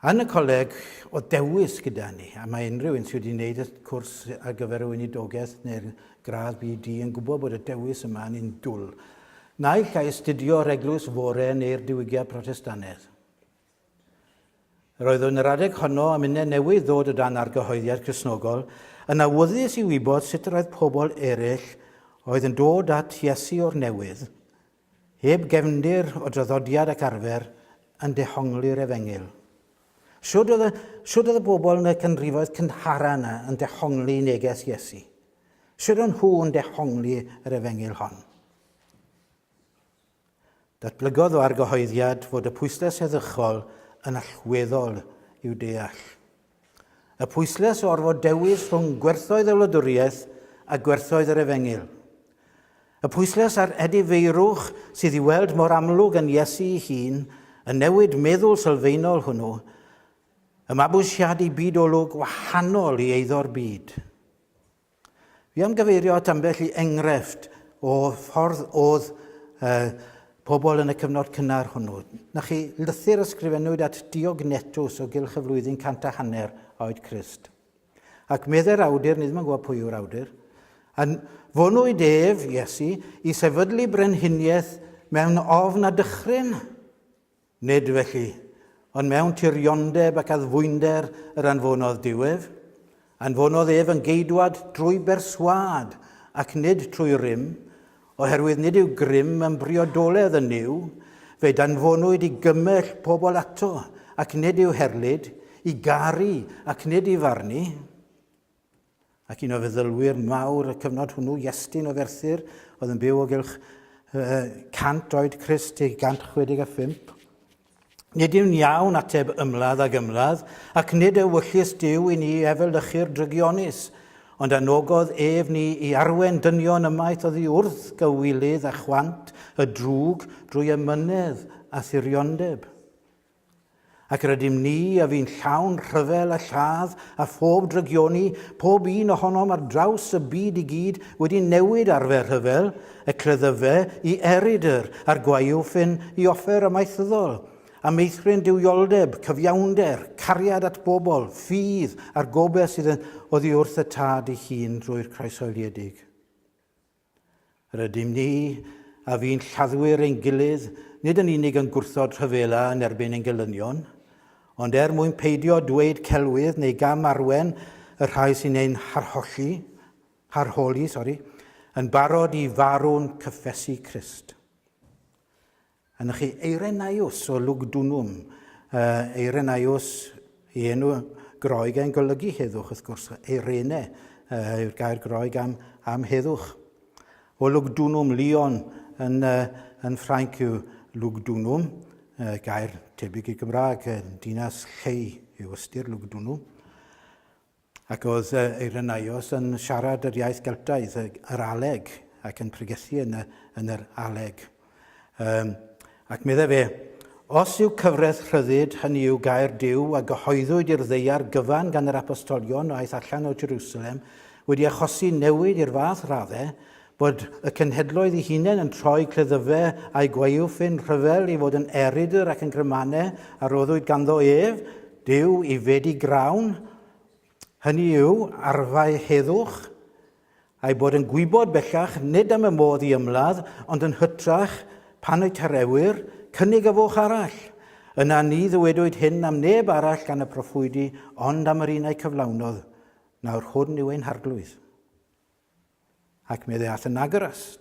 Yn y coleg oedd dewis gyda ni, a mae unrhyw un sydd wedi gwneud y cwrs ar gyfer y weinidogaeth neu'r gradd BD yn gwybod bod y dewis yma yn indwl. Naill ai astudio yr eglwys fore neu'r diwygiad Protestanedd. Yr oedd yn yr adeg honno am uned newydd ddod o dan argyhoeddiad Cresnogol, yn awyddus i wybod sut yr oedd pobl eraill oedd yn dod at Iesu o'r newydd, Heb gefndir o draddodiad ac arfer yn dehongli'r Efengyl. Shwd oedd y, shwd oedd y bobl yn y canrifoedd cynhara yna yn dehongli neges Iesu? Shwd o'n nhw yn dehongli yr Efengyl hon? Datblygodd o argyhoeddiad fod y pwysles heddychol yn allweddol i'w deall. Y pwyslais o orfod dewis rhwng gwerthoedd y wladwriaeth a gwerthoedd yr efengyl. Y pwyslais ar edifeirwch sydd i weld mor amlwg yn Iesu ei hun, y newid meddwl sylfaenol hwnnw, y mabwysiadu byd olwg wahanol i eiddo'r byd. Fi am gyfeirio at ambell i enghraifft o ffordd oedd uh, pobl yn y cyfnod cynnar hwnnw. Na chi, lythyr ysgrifennwyd at Diog Netws o gylch y flwyddyn cant a hanner oed Christ. Ac meddai'r awdur, nid mae'n gwybod pwy yw'r awdur, a fonwyd ef, Iesu, i sefydlu brenhiniaeth mewn ofn a dychryn. Nid felly, ond mewn tiriondeb ac addfwynder yr anfonodd Duw ef. Anfonodd ef yn geidwad drwy berswâd, ac nid trwy rym, oherwydd nid yw grym yn briodoledd yn Nuw, fe danfonwyd i gymell pobl ato, ac nid i'w herlid, i garu, ac nid i farnu. ac un o feddylwyr mawr y cyfnod hwnnw, Iestyn o Ferthyr, oedd yn byw o gylch 100 oed Crist ei 165. Nid yw'n iawn ateb ymladd ag ymladd, ac nid ewyllys Dyw i ni efelychu'r drygionus, ond anogodd ef ni i arwen dynion ymaith oddi wrth gywilydd a chwant y drwg drwy ymynedd a thiriondeb. Ac rydym ni, a fu'n llawn rhyfel a lladd, a phob drygioni, pob un ohonom ar draws y byd i gyd, wedi newid arfer rhyfel, y cleddyfe, i erydr, a'r gwaywffyn ffyn, i offer amaethyddol, a meithrin duwioldeb, cyfiawnder, cariad at bobl, ffydd, a'r gobaith sydd yn oddi wrth y Tad ei hun drwy'r Croesoeliedig. Rydym ni, a fu'n lladdwyr ein gilydd, nid yn unig yn gwrthod rhyfela yn erbyn ein gelynion, ond er mwyn peidio dweud celwydd neu gam arwen y rhai sy'n ein harholli, harholi, sori, yn barod i farw'n cyffesu Crist. Yn chi Eirenaios o Lugdunum, Eirenaios i enw Groeg yn golygu heddwch, wrth gwrs, Eirene yw'r gair Groeg am, am heddwch. O Lugdunum, Lyon yn, yn Ffrainc yw Lugdunum, gair tebyg i Gymraeg, dinas llei yw ystyr Lugdunum. Ac oedd Irenaeus yn siarad yr iaith Geltaidd, yr Aleg, ac yn pregethu yn, y, yn yr Aleg. Um, ac meddai fe, os yw cyfraith rhyddid, hynny yw gair Dyw a gyhoeddwyd i'r ddeiar gyfan gan yr apostolion aeth allan o Jerusalem, wedi achosi newid i'r fath raddau, Bod y cenhedloedd i hunain yn troi cleddyfe a'u gwaywffyn rhyfel i fod yn erydr ac yn grymanne a roddwyd ganddo ef, Duw, i fedi grawn, hynny yw, arfau heddwch, a'i bod yn gwybod bellach nid am y modd i ymladd, ond yn hytrach, pan y tarewir, cynnig y foch arall. Yna ni ddywedwyd hyn am neb arall gan y proffwydi, ond am yr un a'i cyflawnodd, nawr hwn yw ein harglwydd. Ac mi ddeall yn agorus.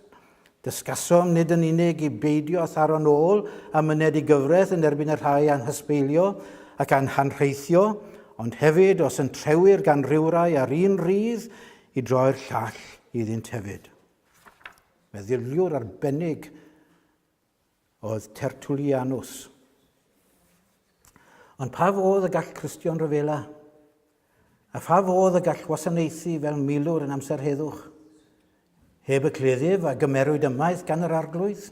Dysgasom nid yn unig i beidio â tharo'n ôl a myned i gyfraith yn erbyn y rhai a'n hysbeilio ac a'n hanrheithio, ond hefyd os yn trewir gan rywrai ar un rydd, i droi'r llall iddynt hefyd. Meddyliwr arbennig oedd Tertullianus. Ond pa fodd y gall Cristion ryfela? A pha fodd y gall wasanaethu fel milwr yn amser heddwch? Heb y cleddyf a gymerwyd ymaith gan yr arglwydd?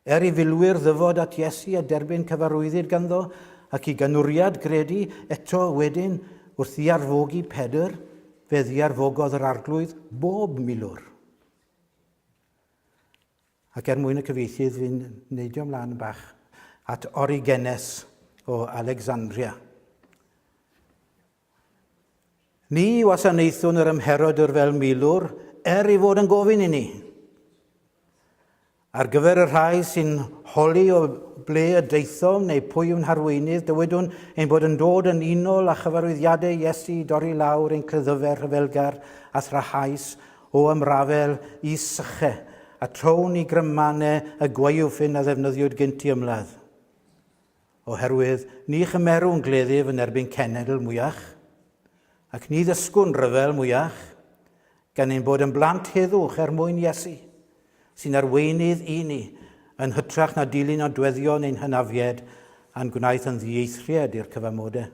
Er i filwyr ddyfod at Iesu a derbyn cyfarwyddyd ganddo ac i ganwriad gredu eto wedyn wrth ddiarfogi Pedr, fe ddiarfogodd yr arglwydd bob milwr. Ac er mwyn y cyfieithydd fi'n neidio mlaen bach at Origenes o Alexandria. Ni wasanaethwn yr ymherodwr fel milwr er i fod yn gofyn i ni. Ar gyfer y rhai sy'n holi o ble y daethom neu pwy yw'n harweinydd, dywedwn ein bod yn dod yn unol â chyfarwyddiadau Iesu i dorri lawr ein creddyfer rhyfelgar a thrahais O ymrafel i syche, a trown i grymmane y gwaywffyn a ddefnyddiwyd gynt i ymladd. Oherwydd ni chymerwn gleddyf yn erbyn cenedl mwyach, ac ni ddysgwn ryfel mwyach, gan ein bod yn blant heddwch er mwyn Iesu, sy'n arweinydd i ni, yn hytrach na dilyn nodweddion ein hynafied a'n gwnaeth yn ddieithried i'r cyfamode.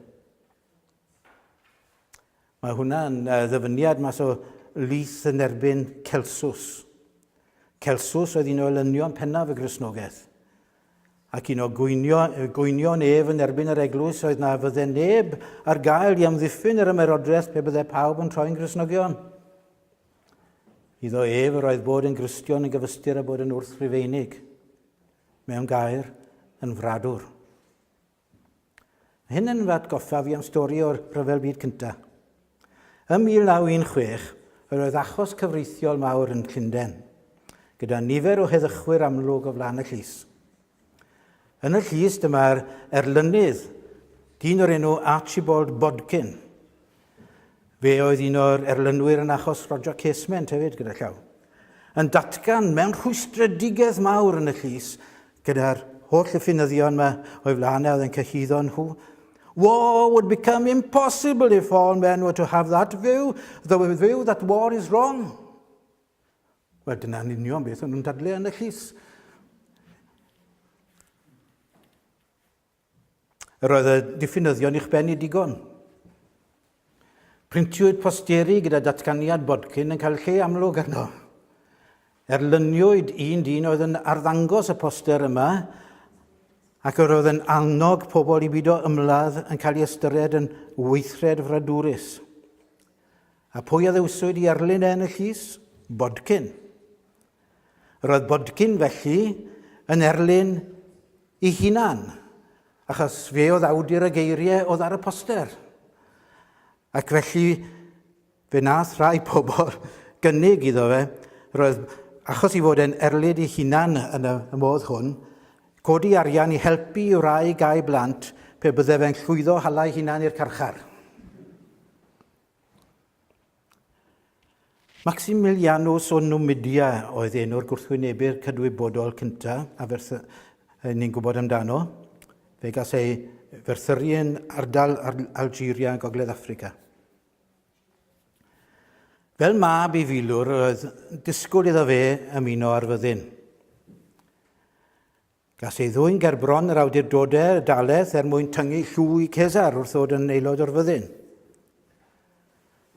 Mae hwnna'n ddyfyniad mas o lith yn erbyn Celsus. Celsus oedd un o elynion pennaf y Gristnogaeth. Ac un o gweinio, gwynion ef yn erbyn yr eglwys oedd na fydde neb ar gael i amddiffyn yr ymerodraeth pe bydde pawb yn troi'n Gristnogion. Iddo ef yr oedd bod yn Gristion yn gyfystyr a bod yn wrth Rufeinig. Mewn gair, yn fradwr. Mae hyn yn fy atgoffa fi am stori o'r Rhyfel Byd Cyntaf. Ym 1916, yr oedd achos cyfreithiol mawr yn Llundain, gyda nifer o heddychwyr amlwg o flaen y llys. Yn y llys dyma'r erlynydd, dyn o'r enw Archibald Bodkin, Fe oedd un o'r erlynwyr yn achos Roger Casement hefyd gyda llaw. Yn datgan mewn rhwystredigaeth mawr yn y llys gyda'r holl yffynyddion yma o'i flaen e oedd yn cyhyddo nhw War would become impossible if all men were to have that view, though a view that war is wrong. Wel, dyna'n union beth o'n nhw'n dadle yn y llys. Yr oedd y diffinyddion i'ch ben i digon. Printiwyd posteri gyda datganiad Bodkin yn cael lle amlwg arno. Erlyniwyd un dyn oedd yn arddangos y poster yma ac yr oedd yn annog pobl i bido ymladd yn cael ei ystyried yn weithred fradwrus. A pwy a ddewswyd i erlyn e yn y llys? Bodkin. Roedd Bodkin felly yn erlyn i hunan, achos fe oedd awdur y geiriau oedd ar y poster. Ac felly fe nath rai pobl gynnig iddo fe, roedd achos i fod yn erlyd i hunan yn y modd hwn, codi arian i helpu i wraig a'i blant pe bydde fe'n llwyddo hala'i hunan i'r carchar. Maximilianus o Numidia oedd enw'r gwrthwynebr cydwybodol cyntaf a ferthy- ni'n gwybod amdano. Fe gas ei ferthyru yn ardal Algeria, Gogledd Africa. Fel mab i filwr, roedd disgwyl iddo fe ymuno â'r fyddin. Gas ei ddwyn ger bron yr awdurdodau dalaeth er mwyn tyngu llw i Cesar wrth ddod yn aelod o'r fyddin.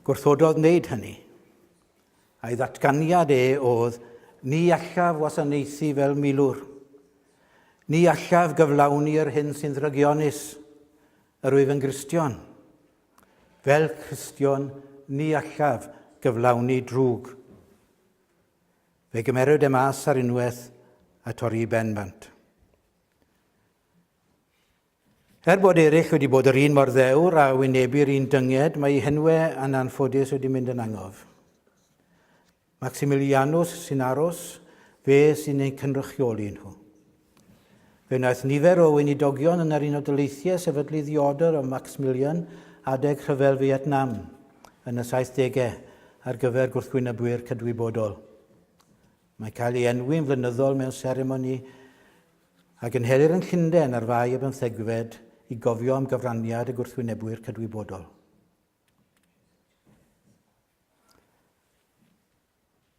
Gwrthododd wneud hynny. A'i ddatganiad e oedd, ni allaf wasanaethu fel milwr. Ni allaf gyflawni yr hyn sy'n ddrygionus, yr wyf yn Gristion. Fel Cristion, ni allaf gyflawni drwg. Fe gymeriwyd e mas ar unwaith a torri i ben bant. Er bod eraill wedi bod yr un mor ddewr a wynebu'r un dynged, mae ei henwe yn anffodus wedi mynd yn angof. Maximilianus sy'n aros, fe sy'n ein cynrychioli nhw. Fe wnaeth nifer o weinidogion yn yr Unol Daleithiau sefydlu ddiodr o Maxmilian adeg Rhyfel Fietnam yn y saithdegau ar gyfer gwrthwynebwyr cydwybodol. Mae cael ei enwi'n flynyddol mewn seremoni a gynhelir yn Llundain ar Fai y Bymthegfed i gofio am gyfraniad y gwrthwynebwyr cydwybodol.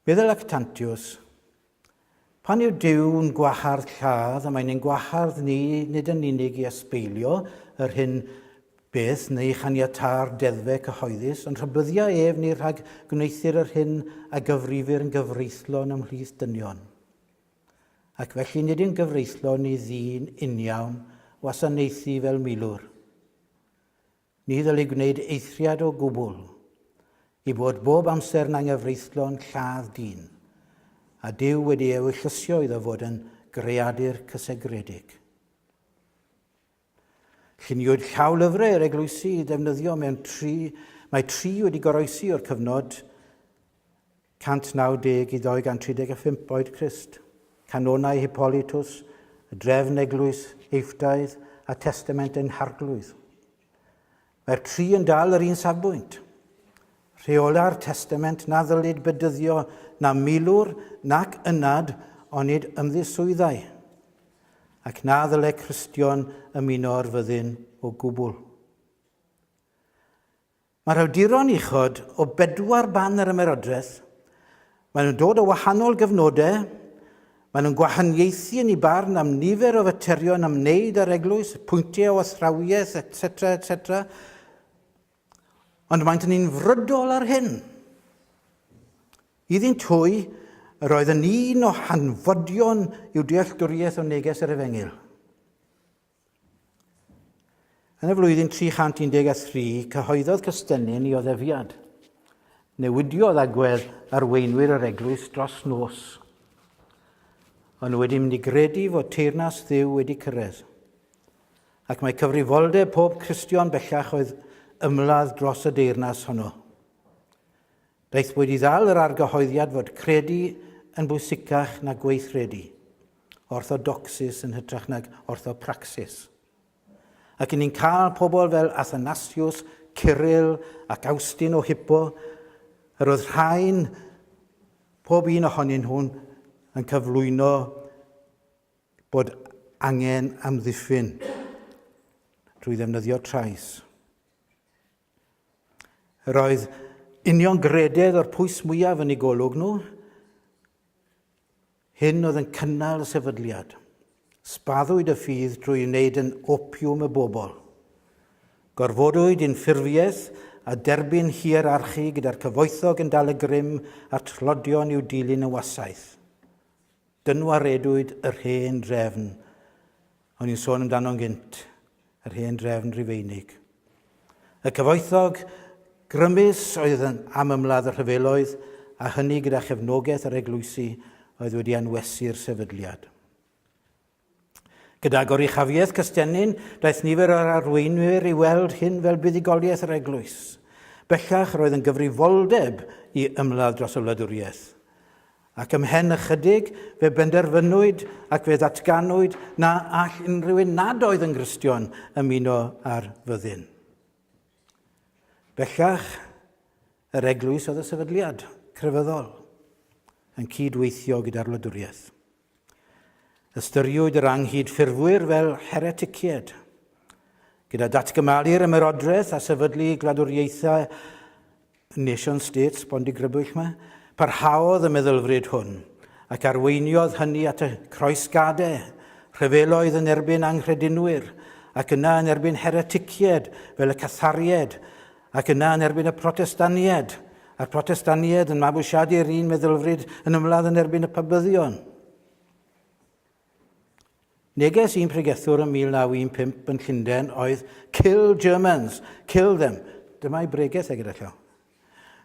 Bydd y lactantiws. Pan yw Duw'n gwahardd lladd, a mae'n ein gwahardd ni nid yn unig i ysbeilio yr hyn beth neu chaniatâ'r deddfe cyhoeddus, ond rhybyddia ef ni rhag gwneuthur yr hyn a gyfrifir yn gyfreithlon ymhlith dynion. Ac felly nid yn gyfreithlon i ddyn uniawn wasanaethu fel milwr. Ni ddylid gwneud eithriad o gwbl i fod bob amser yn anghyfreithlon lladd dyn, a Duw wedi eu llysio iddo fod yn greadur cysegredig. Lluniwyd llawlyfrau yr eglwysi i ddefnyddio mewn tri, mae tri wedi goroesi o'r cyfnod 190 i 235 oed Crist, canonau Hippolytus, y drefn eglwys Eiftaidd a Testament ein Harglwydd. Mae'r tri yn dal yr un safbwynt. Rheola'r Testament na ddylid bedyddio na milwr nac ynad onid ymddiswyddau, ac na ddyle Cristion ymuno o'r fyddin o gwbl. Mae'r awduron uchod o bedwar ban yr Ymerodraeth, maen nhw'n dod o wahanol gyfnodau, maen nhw'n gwahaniaethu yn eu barn am nifer o faterion ymwneud â'r eglwys, pwyntiau o athrawiaeth, etc, etc. Ond maent ni'n frydol ar hyn. Iddynt hwy, yr oedd yn un o hanfodion i'w dealltwriaeth o neges yr Efengyl. Yn y flwyddyn 313, cyhoeddodd Cystennin i oddefiad. Newidiodd agwedd arweinwyr yr eglwys dros nos. Ond nhw wedi mynd i gredu fod teyrnas ddiw wedi cyrraedd. Ac mae cyfrifoldeb pob Cristion bellach oedd ymladd dros y deyrnas honno. Beth wedi ddal yr argyhoeddiad fod credu yn bwysicach na gweithredu, orthodocsis yn hytrach nag orthopraxis? Ac ni'n cael pobl fel Athanasius, Cyril ac Awstin o Hippo, yr oedd rhain, pob un ohonyn nhw'n yn cyflwyno bod angen amddiffyn drwy ddefnyddio trais. Yr oedd union grededd o'r pwys mwyaf yn ei golwg nhw. Hyn oedd yn cynnal y sefydliad. Spaddwyd y ffydd drwy wneud yn opiwm y bobl. Gorfodwyd i'n ffurfiaeth a derbyn hierarchi gyda'r cyfoethog yn dal y grym a'r tlodion i'w dilyn yn wasaeth. Dynwaredwyd yr hen drefn, o'n i'n sôn amdano'n gynt, yr hen drefn Rufeinig. Y cyfoethog grymus oedd yn am ymladd y rhyfeloedd, a hynny gyda chefnogaeth yr eglwysi oedd wedi anwesu'r sefydliad. Gyda goruchafiaeth Cystennin, daeth nifer o'r arweinwyr i weld hyn fel buddugoliaeth yr eglwys. Bellach roedd yn gyfrifoldeb i ymladd dros y wladwriaeth. Ac ymhen ychydig, fe benderfynwyd ac fe ddatganwyd na all unrhyw un nad oedd yn Gristion ymuno ar fyddin. Bellach, yr eglwys oedd y sefydliad crefyddol yn cyd-weithio gyda'r wladwriaeth. Ystyriwyd yr anghydffurfwyr fel hereticied. Gyda datgymalu'r ymerodraeth a sefydlu gwladwriaethau nation states bondigrybwyll yma, parhaodd y meddylfryd hwn, ac arweiniodd hynny at y croesgadau, rhyfeloedd yn erbyn anghredinwyr, ac yna yn erbyn hereticied fel y Catharied Ac yna yn erbyn y Protestaniaid, a'r Protestaniaid yn mabwysiadu'r un meddylfryd yn ymladd yn erbyn y Pabyddion. Neges un pregethwr yn 1915 yn Llundain oedd Kill Germans, kill them. Dyma'i bregeth e gyda llaw.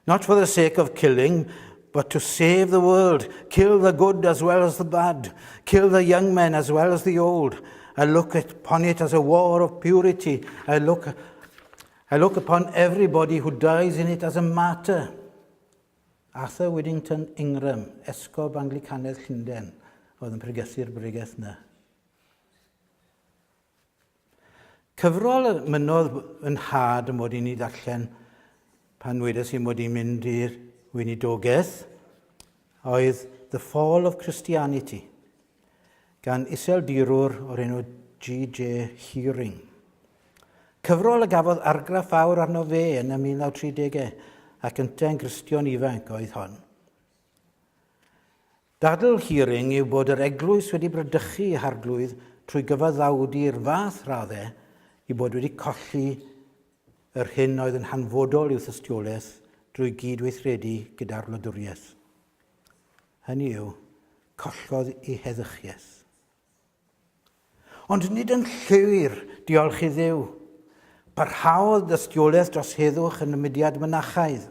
Not for the sake of killing, but to save the world, kill the good as well as the bad, kill the young men as well as the old. I look upon it as a war of purity. I look I look upon everybody who dies in it as a martyr. Arthur Widdington Ingram, esgob Anglicanedd Llundain, oedd yn pregethu'r bregeth na. Cyfrol y mynodd yn had yn mod i'n ei ddarllen pan wedes i mod i'n mynd i'r weinidogaeth oedd The Fall of Christianity, gan iseldirwr o'r enw G.J. Hearing. Cyfrol y gafodd argraff fawr arno fe yn y 1930au ac yntau yn Gristion ifanc oedd hon. Dadl Hearing yw bod yr eglwys wedi bradychu ei harglwydd trwy gyfaddawdu'r fath raddau i bod wedi colli yr hyn oedd yn hanfodol i'w thystiolaeth drwy gyd-weithredu gyda'r wladwriaeth. Hynny yw, collodd ei heddychiaeth. Ond nid yn llwyr, diolch i Dduw. Parhaodd dystiolaeth dros heddwch yn y mudiad mynachaidd.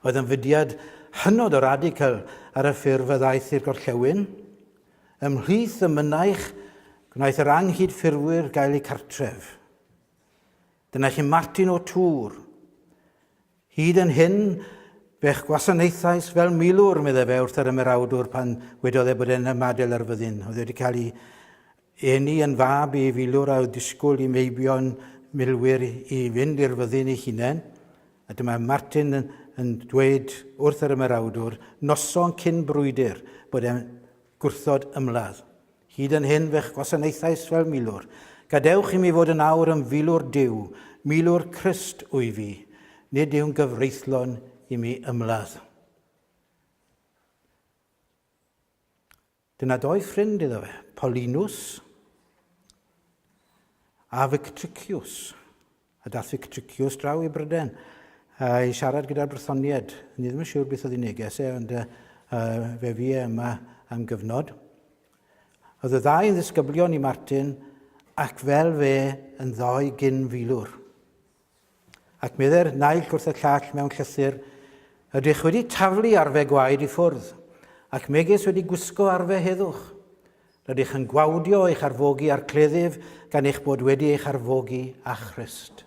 Oedd yn fudiad hynod o radical ar y ffurf a ddaeth i'r gorllewin. Ymhlith y mynaich, gwnaeth yr anghydffurfwyr gael eu cartref. Dyna chi Martin o Tŵr. Hyd yn hyn, fe'ch gwasanaethais fel milwr, meddai fe wrth yr ymerawdwr pan wedodd e bod e'n ymadael ar fyddin. Oedd wedi cael ei eni yn fab i filwr a oedd disgwyl i meibion milwyr i fynd i'r fyddin ei hunain. A dyma Martin yn, yn dweud wrth yr ymerawdwr, noson cyn brwydr, bod e'n gwrthod ymladd. Hyd yn hyn fe'ch gwasanaethais fel milwr. Gadewch i mi fod yn awr yn filwr Duw, milwr Crist wy fi, nid yw'n gyfreithlon i mi ymladd. Dyna doi ffrind iddo fe, Paulinus a Victricius. A dathig tricius draw i Bryden a i siarad gyda'r Brythoniaid. Ni ddim yn siŵr beth oedd ei neges e, ond fe fi e yma am gyfnod. Oedd y ddau yn ddisgyblion i Martin ac fel fe yn ddoi gyn filwr. Ac medde'r naill wrth y llall mewn llythyr, ydych wedi taflu arfe gwaed i ffwrdd, ac megis wedi gwisgo arfe heddwch. Rydych yn gwawdio eich arfogi a'r cleddyf gan eich bod wedi eich arfogi â Christ.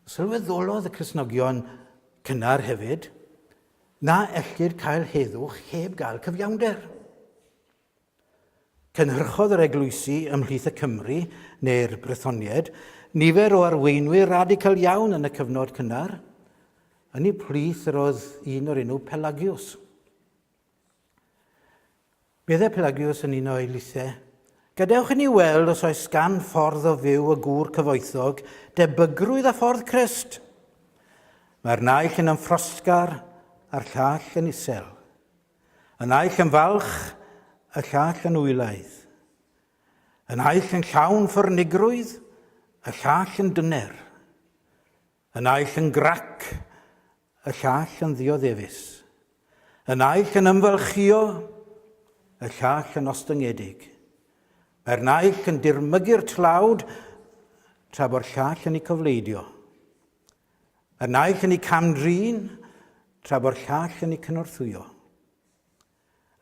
Sylweddolodd y Cresnogion cynnar hefyd na ellir cael heddwch heb gael cyfiawnder. Cynhyrchodd yr eglwysi ymhlith y Cymry, neu'r Brethonied, nifer o arweinwyr radical iawn yn y cyfnod cynnar. Yn ei plith yr oedd un o'r enw Pelagius. Bydd y Pelagius yn un o eilithau. Gadewch i ni weld os oes gan ffordd o fyw y gŵr cyfoethog debygrwydd a ffordd Crist. Mae'r naill yn ymffrosgar a'r llall yn isel. Y naill yn falch, y llall yn wylaidd. Y naill yn llawn ffyrnigrwydd, y llall yn dyner. Y naill yn grac, y llall yn ddioddefus. Y naill yn ymfalchïo, y llall yn ostyngedig. Mae'r naill yn dirmygu'r tlawd, tra bo'r llall yn ei cofleidio. Y naill yn ei cam-drin, tra bo'r llall yn ei cynorthwyo.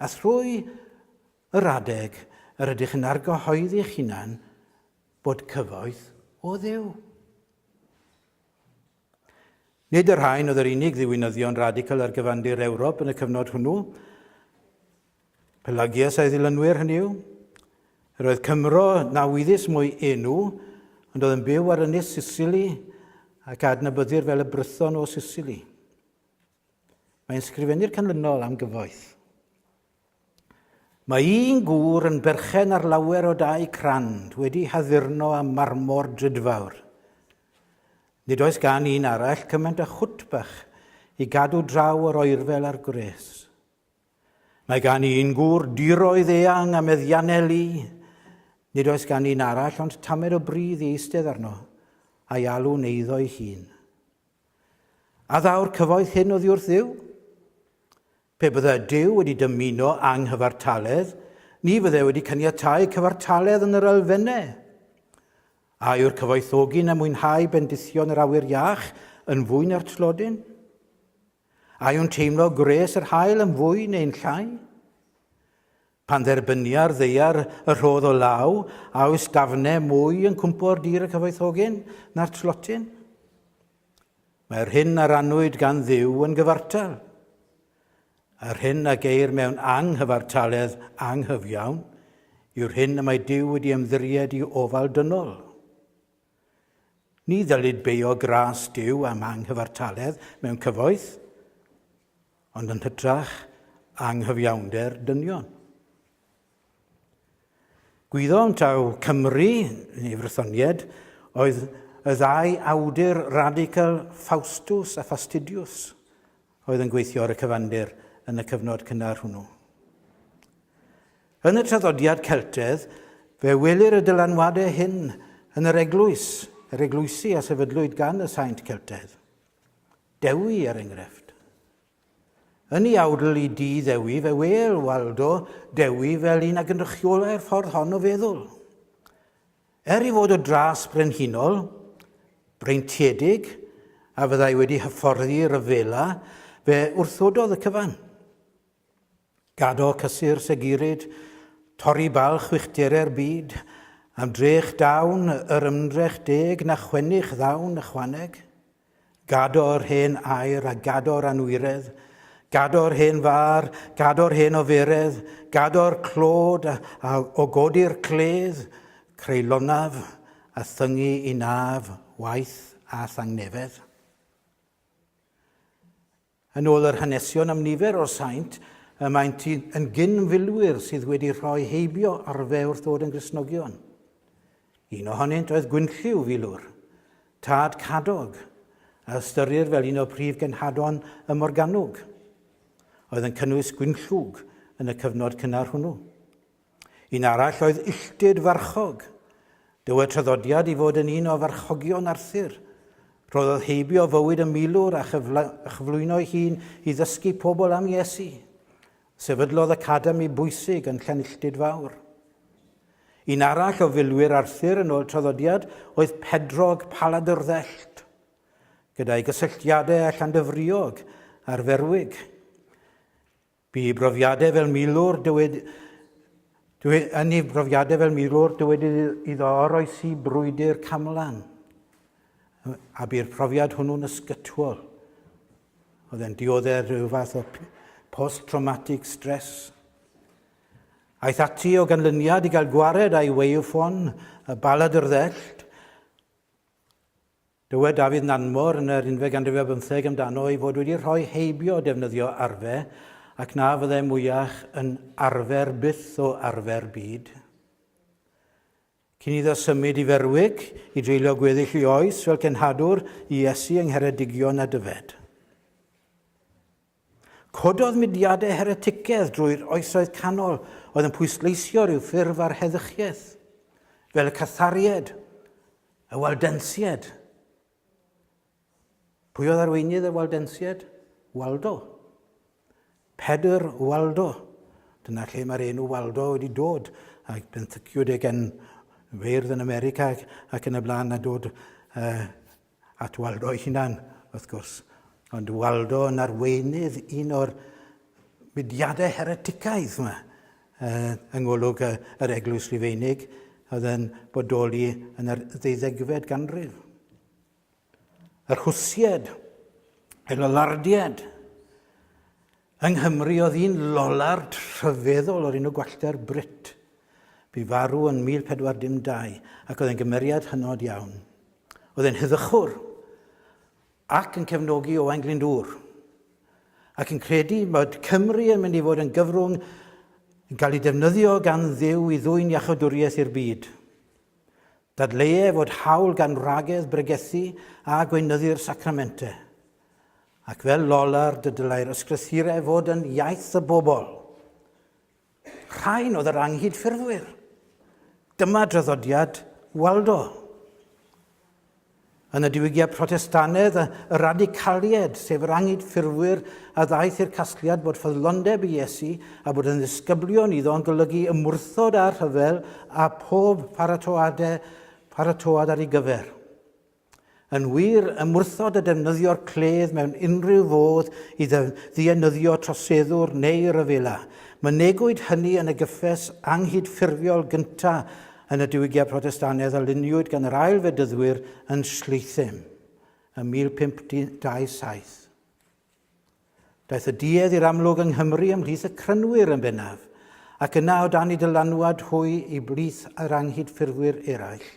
A thrwy yr adeg yr ydych yn argyhoeddi'ch hunan Bod cyfoeth o Dduw. Nid yr rhain oedd yr unig ddiwinyddion radical ar gyfandir Ewrop yn y cyfnod hwnnw. Pelagius a'i ddilynwyr hynny yw. Yr oedd Cymro na wyddys mwy enw, ond oedd yn byw ar ynys Sicily ac adnabyddir fel y Brython o Sicily. Mae'n sgrifennu'r canlynol am gyfoeth. Mae un gŵr yn berchen ar lawer o dai crand wedi haddurno â marmor drudfawr. Nid oes gan un arall cymaint â chwtbach i gadw draw o'r oerfel a'r gwres. Mae gan un gŵr diroedd eang a meddianau lu. Nid oes gan un arall ond tamed o bridd i eistedd arno, a'i alw'n eiddo'i hun. A ddaw'r cyfoeth hyn oddi wrth dduw? Pe byddai Duw wedi dymuno anghyfartaledd, ni fyddai wedi caniatáu cyfartaledd yn yr elfennau. A yw'r cyfoethogi na mwynhau bendithion yr awyr iach yn fwy na'r tlodyn? A yw'n teimlo gwres yr haul yn fwy neu'n llai? Pan dderbynia'r ddaear y rhodd o law, a oes gafne mwy yn cwmpo'r dir y cyfoethogyn na'r tlotyn? Mae'r hyn a rannwyd gan ddiw yn gyfartal. Yr hyn a geir mewn anghyfartaledd anghyfiawn yw'r hyn y mae Dyw wedi ymddiried i ofal dynol. Ni ddylid beio gras Dyw am anghyfartaledd mewn cyfoeth, Ond yn hytrach anghyfiawnder dynion. Gwyddom taw Cymru, neu Frythonied, oedd y ddau awdur radical Faustus a Fastidius oedd yn gweithio ar y cyfandir yn y cyfnod cynnar hwnnw. Yn y traddodiad Celtedd, fe welir y dylanwadau hyn yn yr eglwys, yr eglwysi a sefydlwyd gan y saint Celtedd. Dewi, er engrefft. Yn ei awdl i Dŷ Ddewi fe wêl Waldo Dewi fel un a gynrychiolai'r ffordd hon o feddwl. Er ei fod o dras brenhinol, breintiedig, a fyddai wedi hyfforddi ryfela, fe wrthododd y cyfan. Gadael cysur segirid, torri balch wychdere'r byd, am drech dawn yr ymdrech deg na chwennych ddawn ychwaneg. Gado'r hen air a gado'r anwiredd, gado'r hen fâr, gado'r hen oferedd, gado'r clod a, a o godi'r cledd, creu lonaf a thyngu i naf waith a thangnefedd. Yn ôl yr hanesion am nifer o'r saint, y maent yn gyn-filwyr sydd wedi rhoi heibio ar fe wrth ddod yn Gristnogion. Un ohonynt oedd Gwynllyw Filwr, tad Cadog, a ystyrir fel un o prif genhadon y Morgannwg, oedd yn cynnwys Gwynllwg yn y cyfnod cynnar hwnnw. Un arall oedd Illtud Farchog. Dywed traddodiad i fod yn un o farchogion Arthur. Rhoddodd heibio fywyd y milwr a chyflwyno'i hun i ddysgu pobl am Iesu. Sefydlodd academi bwysig yn Llanilltud Fawr. Un arall o filwyr Arthur yn ôl traddodiad oedd Pedrog Paladyrddelt. Gyda'i gysylltiadau â Llandyfriog a'r Ferwig, Bu i brofiadau fel milwr, dywed, dywed, yn ei brofiadau fel milwr, dywed iddo oroesi brwydr camlan, a bu'r profiad hwnnw'n ysgytwol. Oedd e'n dioddef rhyw fath o post-traumatic stress. Aeth ati o ganlyniad i gael gwared a'i weiwffon, y balad yr ddell, Dywed Dafydd Nanmor yn yr unfed ganrif ar bymtheg amdano ei fod wedi rhoi heibio o defnyddio arfe, ac na fyddai mwyach yn arfer byth o arfer byd. Cyn iddo symud i Ferwig, i dreulio gweddill ei oes fel cenhadwr i Iesu yng Ngheredigion a Dyfed. Cododd mudiadau hereticaidd drwy'r Oesoedd Canol oedd yn pwysleisio rhyw ffurf ar heddychiaeth, fel y Cathariaid, y Waldensiaid. Pwy oedd arweinydd y Waldensiaid? Waldo. Pedr Waldo. Dyna lle mae'r enw Waldo wedi dod, ac benthyciwyd e gen feirdd yn America ac yn y blaen a dod uh, At Waldo ei hunan, wrth gwrs, ond Waldo yn arweinydd un o'r mudiadau hereticaidd yma, yng ngolwg yr Eglwys Rufeinig, oedd yn bodoli yn yr ddeuddegfed ganrif. Yr Hwsied, y Lollardied, Yng Nghymru oedd un Lollard rhyfeddol o'r enw Gwallter Britt. Bu farw yn 1412 ac oedd e'n gymeriad hynod iawn. Oedd e'n huddychwr ac yn cefnogi Owain Glyndŵr ac yn credu bod Cymru yn mynd i fod yn gyfrwng yn cael ei defnyddio gan ddew i ddwy'n iachawdwriaeth i'r byd. Dadleuai fod hawl gan wragedd bregethu a gweinyddu'r sacramentau. Ac fel Lollard y dylai'r ysgrythurau fod yn iaith y bobl. Rhain oedd yr anghydffurfwyr. Dyma draddodiad Waldo. Yn y diwygiad Protestanedd, y radicalied, sef yr anghydffurfwyr a ddaeth i'r casgliad bod ffyddlondeb i Iesu a bod yn ddisgyblion iddo yn golygu ymwrthod â'r rhyfel a phob paratoadau paratoad ar ei gyfer. Yn wir, ymwrthod y defnyddio'r cledd mewn unrhyw fodd i ddienyddio troseddwr neu ryfela. Mynegwyd hynny yn y gyffes anghydffurfiol gyntaf yn y Diwygiad Protestannedd a luniwyd gan yr ail Fedyddwyr yn Shlythim ym 1527. Daeth y duedd i'r amlwg yng Nghymru ymhlith y crynwyr yn bennaf, ac yna o dan i dylanwad hwy i blith yr anghydffurfwyr eraill.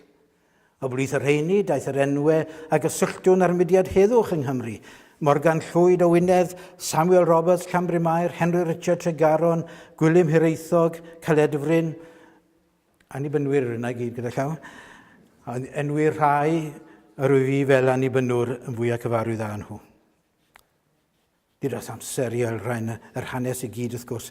O blith y rheini daeth yr enwe a gysylltwn â'r mudiad heddwch yng Nghymru, Morgan Llwyd o Wynedd, Samuel Roberts, Llanbrynmair, Henry Richard Tregaron, Gwilym Hiraethog, Caledfryn, Annibynwyr yna i gyd gyda llaw. A enwi'r rhai yr wyf fi fel annibynwr yn fwyaf cyfarwydd â nhw. Gyda'r amser i elrain yr hanes i gyd wrth gwrs,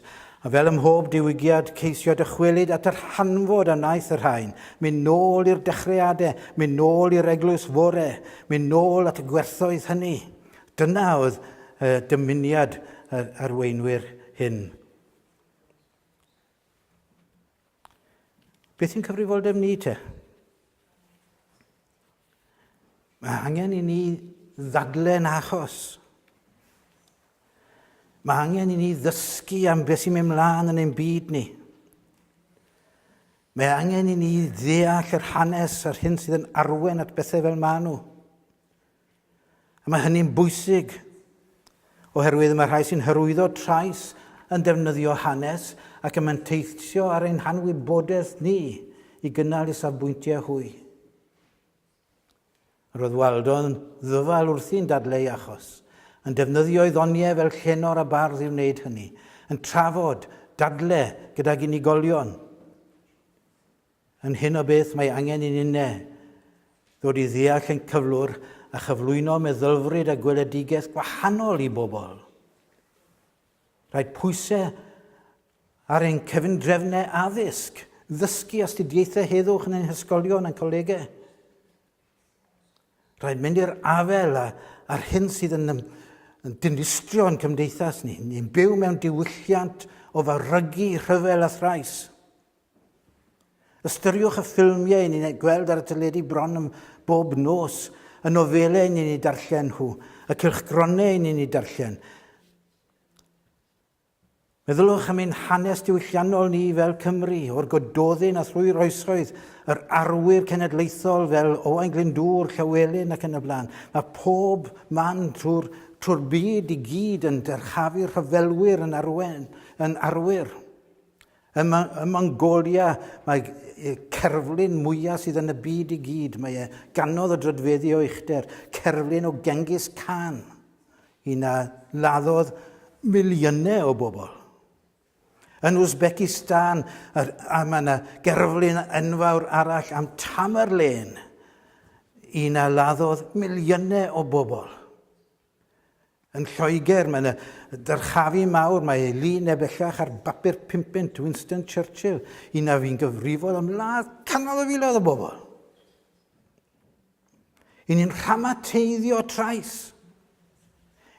a fel ym mhob diwygiad ceisio dychwelyd at yr hanfod a wnaeth y rhain, mynd nôl i'r dechreuadau, mynd nôl i'r eglwys fore, mynd nôl at y gwerthoedd hynny. Dyna oedd uh, dymuniad yr arweinwyr hyn. Beth sy'n cyfrifoldeb ni te? Mae angen i ni ddadlen achos. Mae angen i ni ddysgu am beth sy'n mynd mlaen yn ein byd ni. Mae angen i ni ddeall yr hanes a'r hyn sydd yn arwen at bethau fel maen nhw. A mae hynny'n bwysig, oherwydd mae rhai sy'n hyrwyddo trais yn defnyddio hanes ac yn manteithio ar ein hanwybodaeth ni i gynnal eu safbwyntiau hwy. Roedd Waldo yn ddyfal wrthi'n dadleu achos, yn defnyddio ei ddoniau fel llenor a bardd i wneud hynny, yn trafod, dadle gydag unigolion, Yn hyn o beth mae angen i ninne ddod i ddeall yn cyflwr a chyflwyno meddylfryd a gweledigaeth gwahanol i bobl. Rhaid pwysau ar ein cyfundrefnau addysg, ddysgu astudiaethau heddwch yn ein hysgolion a'n colegau. Rhaid mynd i'r afel a, a'r hyn sydd yn, yn dinistrio yn cymdeithas ni. Ni'n byw mewn diwylliant o farygu rhyfel a thrais. Ystyriwch y ffilmiau i ni'n eu gweld ar y teledu bron yn bob nos, y nofelau i ni'n eu darllen nhw, y cylchgronau i ni'n eu darllen. Meddyliwch am ein hanes diwylliannol ni fel Cymru, o'r Gododdin a thrwy'r oesoedd, yr arwyr cenedlaethol fel Owain Glyndŵr, Llywelyn ac yn y blaen. Mae pob man trwy'r trwy byd i gyd yn dyrchafu'r rhyfelwyr yn, arwen, yn arwyr. Ym Mongolia, mae y cerflun mwyaf sydd yn y byd i gyd, mae e ganodd y drydfeddi o uchder, cerflun o Genghis Khan, i na laddodd miliynau o bobl. Yn Uzbekistan, a mae yna gerflun enfawr arall am Tamerlane, i na laddodd miliynau o bobl. Yn Lloegr, mae yna dyrchafu mawr, mae ei lu neu bellach ar bapur pumpunt Winston Churchill, un a fi'n gyfrifol am ladd canol o filoedd o bobl. Yn ni'n rhamateiddio trais.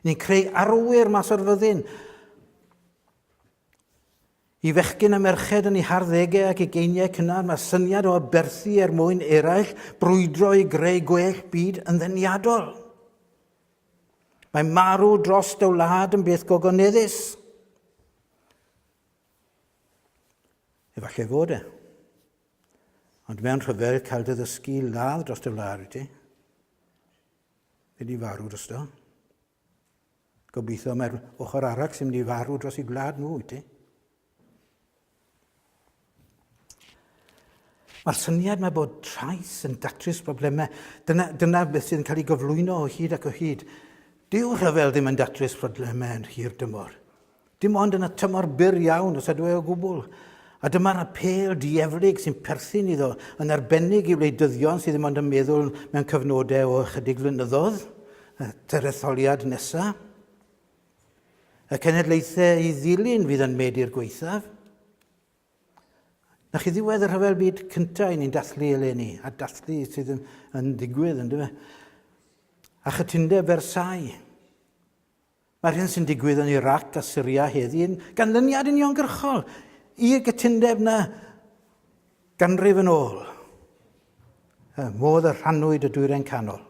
Ni'n creu arwyr mas o'r fyddin. I fechgyn a merched yn eu harddegau ac ugeiniau cynnar, mae syniad o aberthu er mwyn eraill, brwydro i greu gwell byd yn ddeniadol. Mae marw dros dy wlad yn beth gogoneddus. Efallai fod e. Ond mewn rhyfedd cael dy ddysgu ladd dros dy wlad wyt ti. Fe di farw dros do. Gobeithio mae'r ochr arall sy'n mynd i farw dros ei gwlad nhw, wyt ti? Mae'r syniad mae bod trais yn datrys problemau, dyna, dyna beth sy'n cael ei gyflwyno o hyd ac o hyd. Dyw rhyfel ddim yn datrys problemau yn hir dymor. Dim ond yn y tymor byr iawn, os ydw e o gwbl. A dyma'r apêl dieflig sy'n perthyn iddo, yn arbennig i wleidyddion sydd ddim ond yn meddwl mewn cyfnodau o ychydig flynyddoedd, y teretholiad nesaf. Y cenedlaethau i ddilyn fydd yn medi'r gweithaf. Na chi ddiwedd y rhyfel byd cyntaf i ni'n dathlu eleni, a dathlu sydd yn, yn digwydd, ynddo fe? A chytundeb Versailles, Mae'r hyn sy'n digwydd yn Irac a Syria heddi yn ganlyniad uniongyrchol i'r gytundeb na ganrif yn ôl, y modd y rhannwyd y Dwyrain Canol.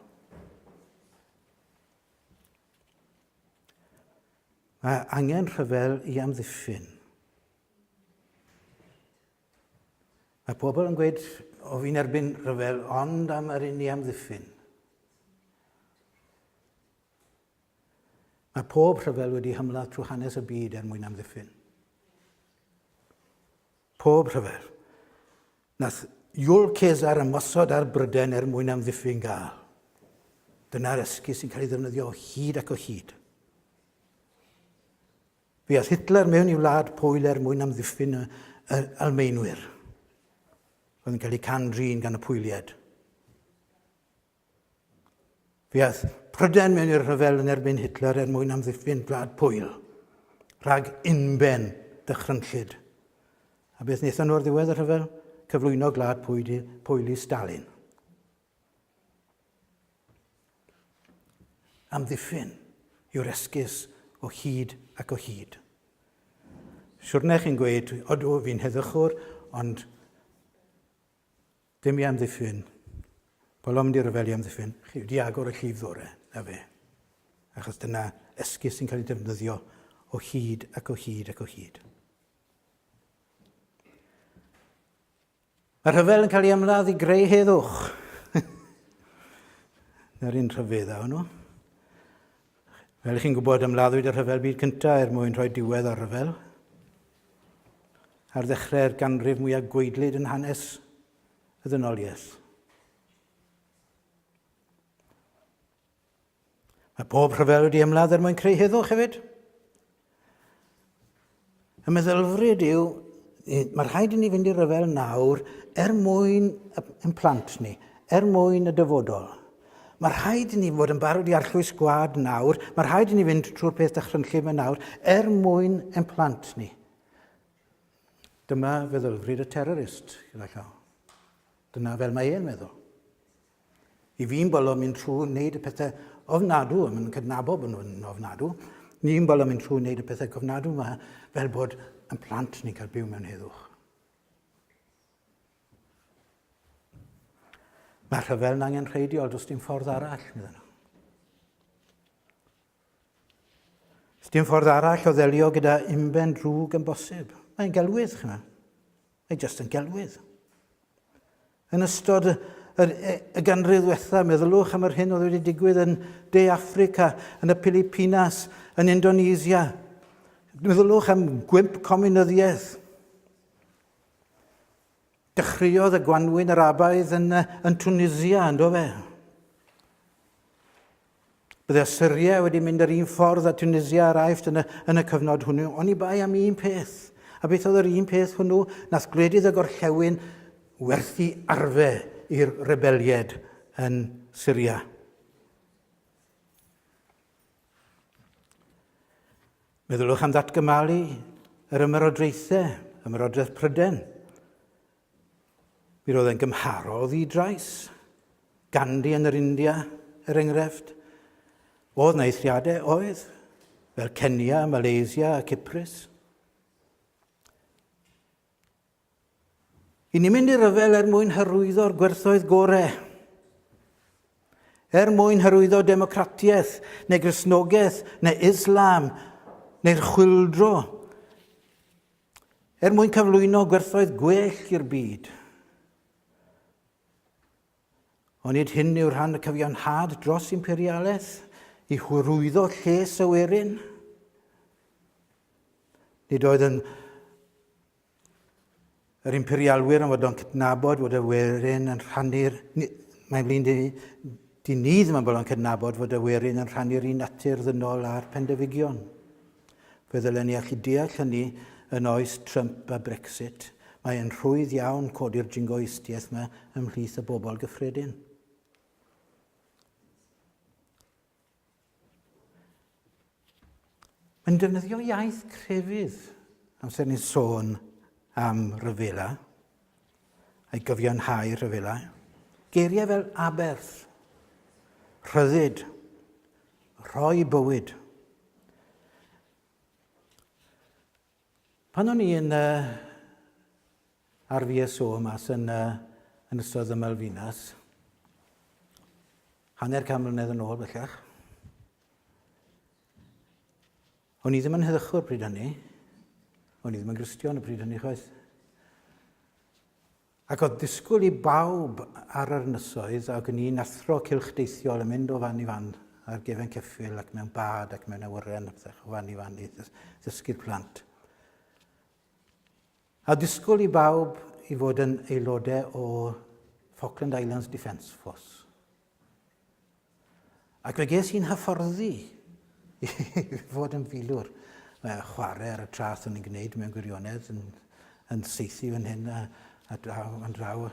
Mae angen rhyfel i amddiffyn. Mae pobl yn gweud, o fi'n erbyn rhyfel, ond am yr un i amddiffyn. Mae pob rhyfel wedi hymladd trwy hanes y byd er mwyn amddiffyn. Pob rhyfel. Nath Iwl Cesar ymosod ar Bryden er mwyn amddiffyn Gael. Dyna'r esgus sy'n cael ei ddefnyddio o hyd ac o hyd. Fe ath Hitler mewn i wlad Pwyl er mwyn amddiffyn y, y Almeinwyr. Oedd yn cael eu can-drin gan y Pwylied. Fe aeth Prydain mewn i'r rhyfel yn erbyn Hitler er mwyn amddiffyn Gwlad Pwyl rhag unben dychrynllyd. A beth wnaethon nhw ar ddiwedd y rhyfel? Cyflwyno Gwlad Pwyl i Stalin. Amddiffyn yw'r esgus o hyd ac o hyd. Siwrne chi'n gweud, odw, fi'n heddychwr, ond Dim i amddiffyn. Paul o'm di ryfel i amddiffyn. Chi wedi agor y llif ddore, na fe. Achos dyna esgus sy'n cael ei defnyddio o hyd ac o hyd ac o hyd. Mae rhyfel yn cael ei ymladd i greu heddwch. Na'r un rhyfedd a hwnnw. Fel ych chi'n gwybod, ymladdwyd y Rhyfel Byd Cyntaf er mwyn rhoi diwedd o'r rhyfel. Ar ddechrau'r ganrif mwyaf gweidlyd yn hanes y ddynoliaeth. Mae pob rhyfel wedi ymladd er mwyn creu heddwch hefyd. Y meddylfryd yw, mae rhaid i ni fynd i ryfel nawr er mwyn ein plant ni, er mwyn y dyfodol. Mae rhaid i ni fod yn barod i arllwys gwad nawr, mae rhaid i ni fynd trwy'r peth dychrynllyd yma nawr er mwyn ein plant ni. Dyma feddylfryd y terrorist, gyda llaw. Dyna fel mae e'n meddwl. I fi'n bolo mynd trwy wneud y pethau ofnadw a mae'n cydnabod bod nhw'n ofnadw. Ni'n bolo mynd trwy wneud y pethau cofnadw yma fel bod yn plant ni'n cael byw mewn heddwch. Mae rhyfel yn angen rheidiol, does dim ffordd arall, meddyn nhw. Does dim ffordd arall o ddelio gyda unben drwg yn bosib. Mae'n gelwydd, chyma. Mae jyst yn gelwydd. Yn ystod y ganrif ddwetha, meddyliwch am yr hyn oedd wedi digwydd yn De Affrica, yn y Pilipinas, yn Indonesia. Meddyliwch am gwymp cominyddiaeth. Dechreuodd y gwanwyn Arabaidd yn, yn Tunisia, ynddo fe? Byddai Syria wedi mynd yr un ffordd â Tunisia ar Aifft yn y, yn y cyfnod hwnnw, oni bai am un peth. A beth oedd yr un peth hwnnw? Nath gwledydd y gorllewin werthu arfe i'r rebelied yn Syria. Meddyliwch am ddatgymalu yr ymerodraethau, ymerodraeth Pryden, Mi roedd e'n gymharol ddi-drais. Gandhi yn yr India, er enghraifft. Oedd na eithriadau? Oedd. Fel Kenya, Malaysia a Cyprus. I ni mynd i ryfel er mwyn hyrwyddo'r gwerthoedd gore. Er mwyn hyrwyddo democratiaeth, neu grisnogaeth, neu Islam, neu'r chwildro, Er mwyn cyflwyno gwerthoedd gwell i'r byd. Ond nid hyn yw rhan y cyfiawnhad dros imperialaeth i hwyrwyddo lles y werin. Nid oedd yn yr imperialwyr yn fod o'n cydnabod fod y werin yn rhannu'r... Mae'n flin di, di ni ddim yn bod o'n cydnabod fod y werin yn rhannu'r un natur ddynol a'r pendefigion. Fe ddylen ni allu deall hynny yn oes Trump a Brexit. Mae e'n rhwydd iawn codi'r jingoistiaeth 'ma ymhlith y bobl gyffredin. Mae'n defnyddio iaith crefydd amser ni'n sôn am ryfela, a'i gyfiawnhau rhyfela. Geiriau fel aberth, rhyddid, rhoi bywyd, Pan o'n i yn uh, ar VSO mas yn, uh, yn ystod y Malfinas, hanner can mlynedd yn ôl bellach, o'n i ddim yn heddychwr pryd hynny, o'n i ddim yn gristion y pryd hynny chwaith. Ac oedd disgwyl i bawb ar yr ynysoedd, ac yn un athro cylch deithiol yn mynd o fan i fan ar gefen ceffyl ac mewn bad ac mewn awyren ac o fan i fan i ddysgu'r plant. A disgwyl i bawb i fod yn aelodau o Falkland Islands Defence Force. Ac fe ges i'n hyfforddi i fod yn filwr. Mae chwarae ar y traeth o'n i'n gwneud mewn gwirionedd, yn, yn seithi fan hyn a, a draw, yn draw.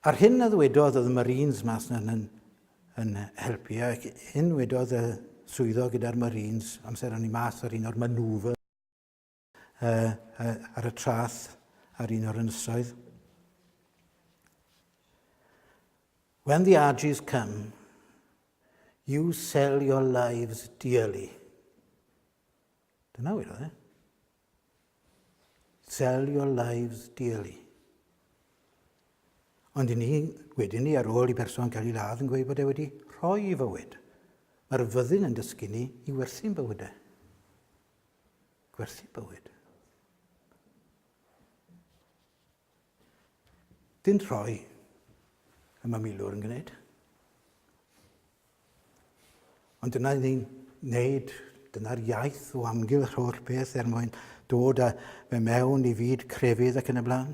A'r hyn a ddwedodd oedd y Marines mas na'n yn, yn helpu, ac hyn wedodd y swyddog gyda'r Marines amser o'n i mas ar un o'r manŵfers, uh, uh, ar y trath ar un o'r ynysoedd. When the Argies come, you sell your lives dearly. Dyna wir, e? Sell your lives dearly. Ond i ni, wedyn ni, ar ôl i berson cael ei ladd yn gweud bod e wedi rhoi i fywyd, mae'r fyddin yn dysgu ni i werthu'n bywydau. gwerthu bywyd. Dyn rhoi y mae milwr yn gwneud. Ond dyna ni'n wneud, dyna'r iaith o amgylch holl beth er mwyn dod â fe mewn i fyd crefydd ac yn y blaen.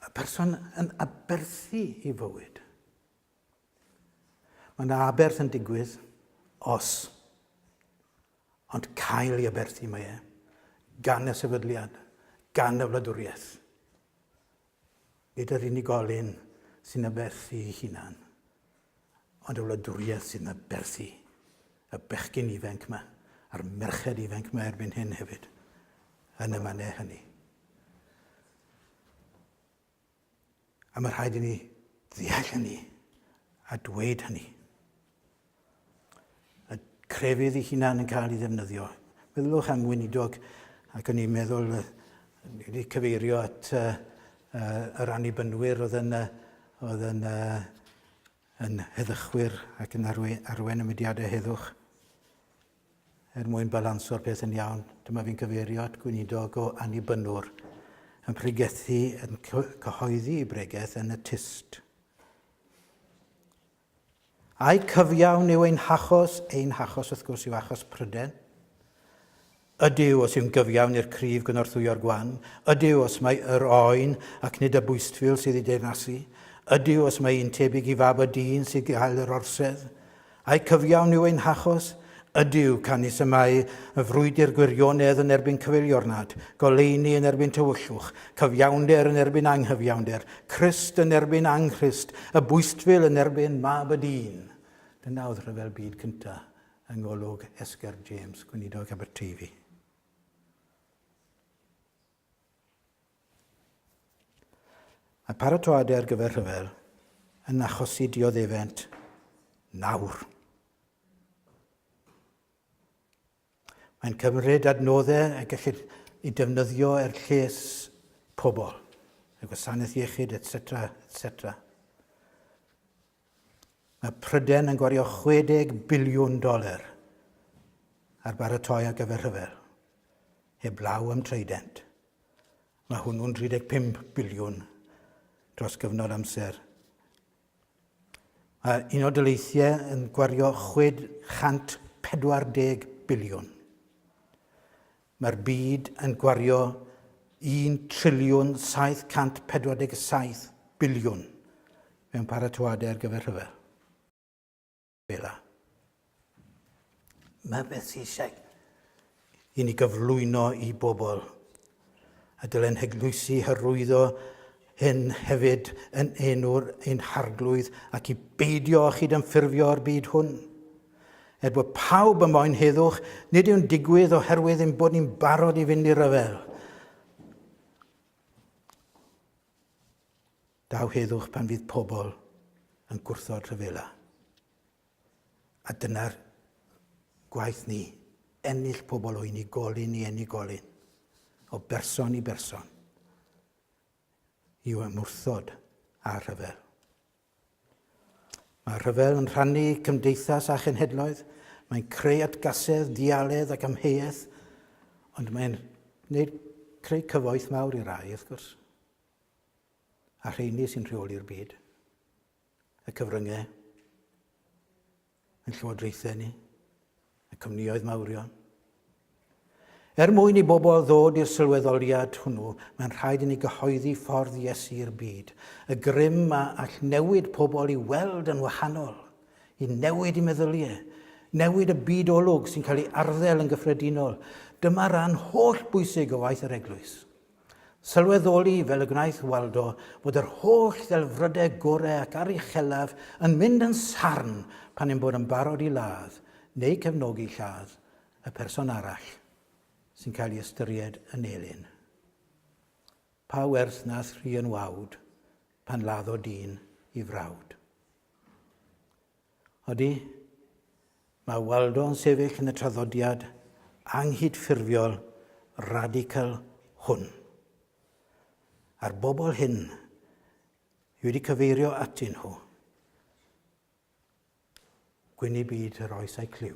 Y person yn aberthu i fywyd. Mae yna aberth yn digwydd os ond cael ei aberthu mae e, gan y sefydliad, gan y wladwriaeth. Nid yr unigolyn sy'n aberthu ei hunan, ond y wladwriaeth sy'n aberthu y bechgyn ifanc yma a'r merched ifanc yma erbyn hyn hefyd yn y mannau hynny. A mae rhaid i ni ddeall hynny a dweud hynny. Y crefydd ei hunan yn cael ei ddefnyddio. Meddylwch am weinidog ac o'n i'n meddwl wedi cyfeirio at uh, uh, yr annibynnwyr oedd yn, uh, oedd yn, uh, yn heddychwyr ac yn arwen, arwen y mudiadau heddwch. Er mwyn balanso'r peth yn iawn, dyma fi'n cyfeirio at gweinidog o Annibynwr yn pregethu, yn cyhoeddi ei bregeth yn y tyst. A'i cyfiawn yw ein hachos, ein hachos wrth gwrs yw achos Pryden. Ydyw os yw'n gyfiawn i'r cryf gynorthwyo'r gwan, ydyw os mae yr oen ac nid y bwystfil sydd ei deyrnasu, ydyw os mae un tebyg i fab y dyn sydd gael yr orsedd, Ai cyfiawn yw ein hachos? Ydyw, canys y mae y frwydr gwirionedd yn erbyn cyfeiliornad, goleuni yn erbyn tywyllwch, cyfiawnder yn erbyn anghyfiawnder, Crist yn erbyn anghrist, y bwystfil yn erbyn mab y dyn. Dyna oedd rhyfel byd cynta yng ngolwg Esger James, gweinidog Aberteifi. Mae paratoadau ar gyfer rhyfel yn achosi dioddefent nawr. Mae'n cymryd adnoddau y gellid ei defnyddio er lles pobl, y gwasanaeth iechyd, etc. etc. Mae Prydain yn gwario 60 biliwn doler ar baratoi ar gyfer rhyfel, heblaw am Trident. Mae hwnnw'n 35 biliwn dros gyfnod amser. Mae Unol Daleithiau yn gwario 640 biliwn. Mae'r byd yn gwario un triliwn 747 biliwn mewn paratoadau ar gyfer rhyfel. Bela. Mae beth sy'n eisiau i ni gyflwyno i bobl. A dylen heglwysi hyrwyddo hyn hefyd yn enw'r ein harglwydd ac i beidio â chyd-ymffurfio â'r byd hwn. Er bod pawb yn moyn heddwch, nid yw'n digwydd oherwydd ein bod ni'n barod i fynd i ryfel. Daw heddwch pan fydd pobl yn gwrthod rhyfela. A dyna'r gwaith ni, ennill pobl o unigolyn i unigolyn, o berson i berson, i ymwrthod â rhyfel. Mae rhyfel yn rhannu cymdeithas a chenhedloedd, mae'n creu atgasedd, dialedd ac amheuaeth, ond mae'n gwneud creu cyfoeth mawr i rai, wrth gwrs, a rheini sy'n rheoli'r byd, y cyfryngau. Ein llywodraethau ni, y cwmnioedd mawrion. Er mwyn i bobl ddod i'r sylweddoliad hwnnw, mae'n rhaid i ni gyhoeddi ffordd Iesu i'r byd, y grym a all newid pobl i weld yn wahanol, i newid i meddyliau, newid y byd olwg sy'n cael ei arddel yn gyffredinol. Dyma ran holl bwysig o waith yr Eglwys. Sylweddoli, fel y gwnaeth Waldo, fod yr holl ddelfrydau gorau ac aruchellaf yn mynd yn sarn pan ein bod yn barod i ladd, neu cefnogi lladd, y person arall sy'n cael ei ystyried yn elyn. Pa werth nath Rhian Wawd pan laddo dyn i frawd? Ydy, mae Waldo yn sefyll yn y traddodiad anghydffurfiol radical hwn. A'r bobl hyn i wedi cyfeirio atyn nhw, gwyn i byd yr oes a'i clyw.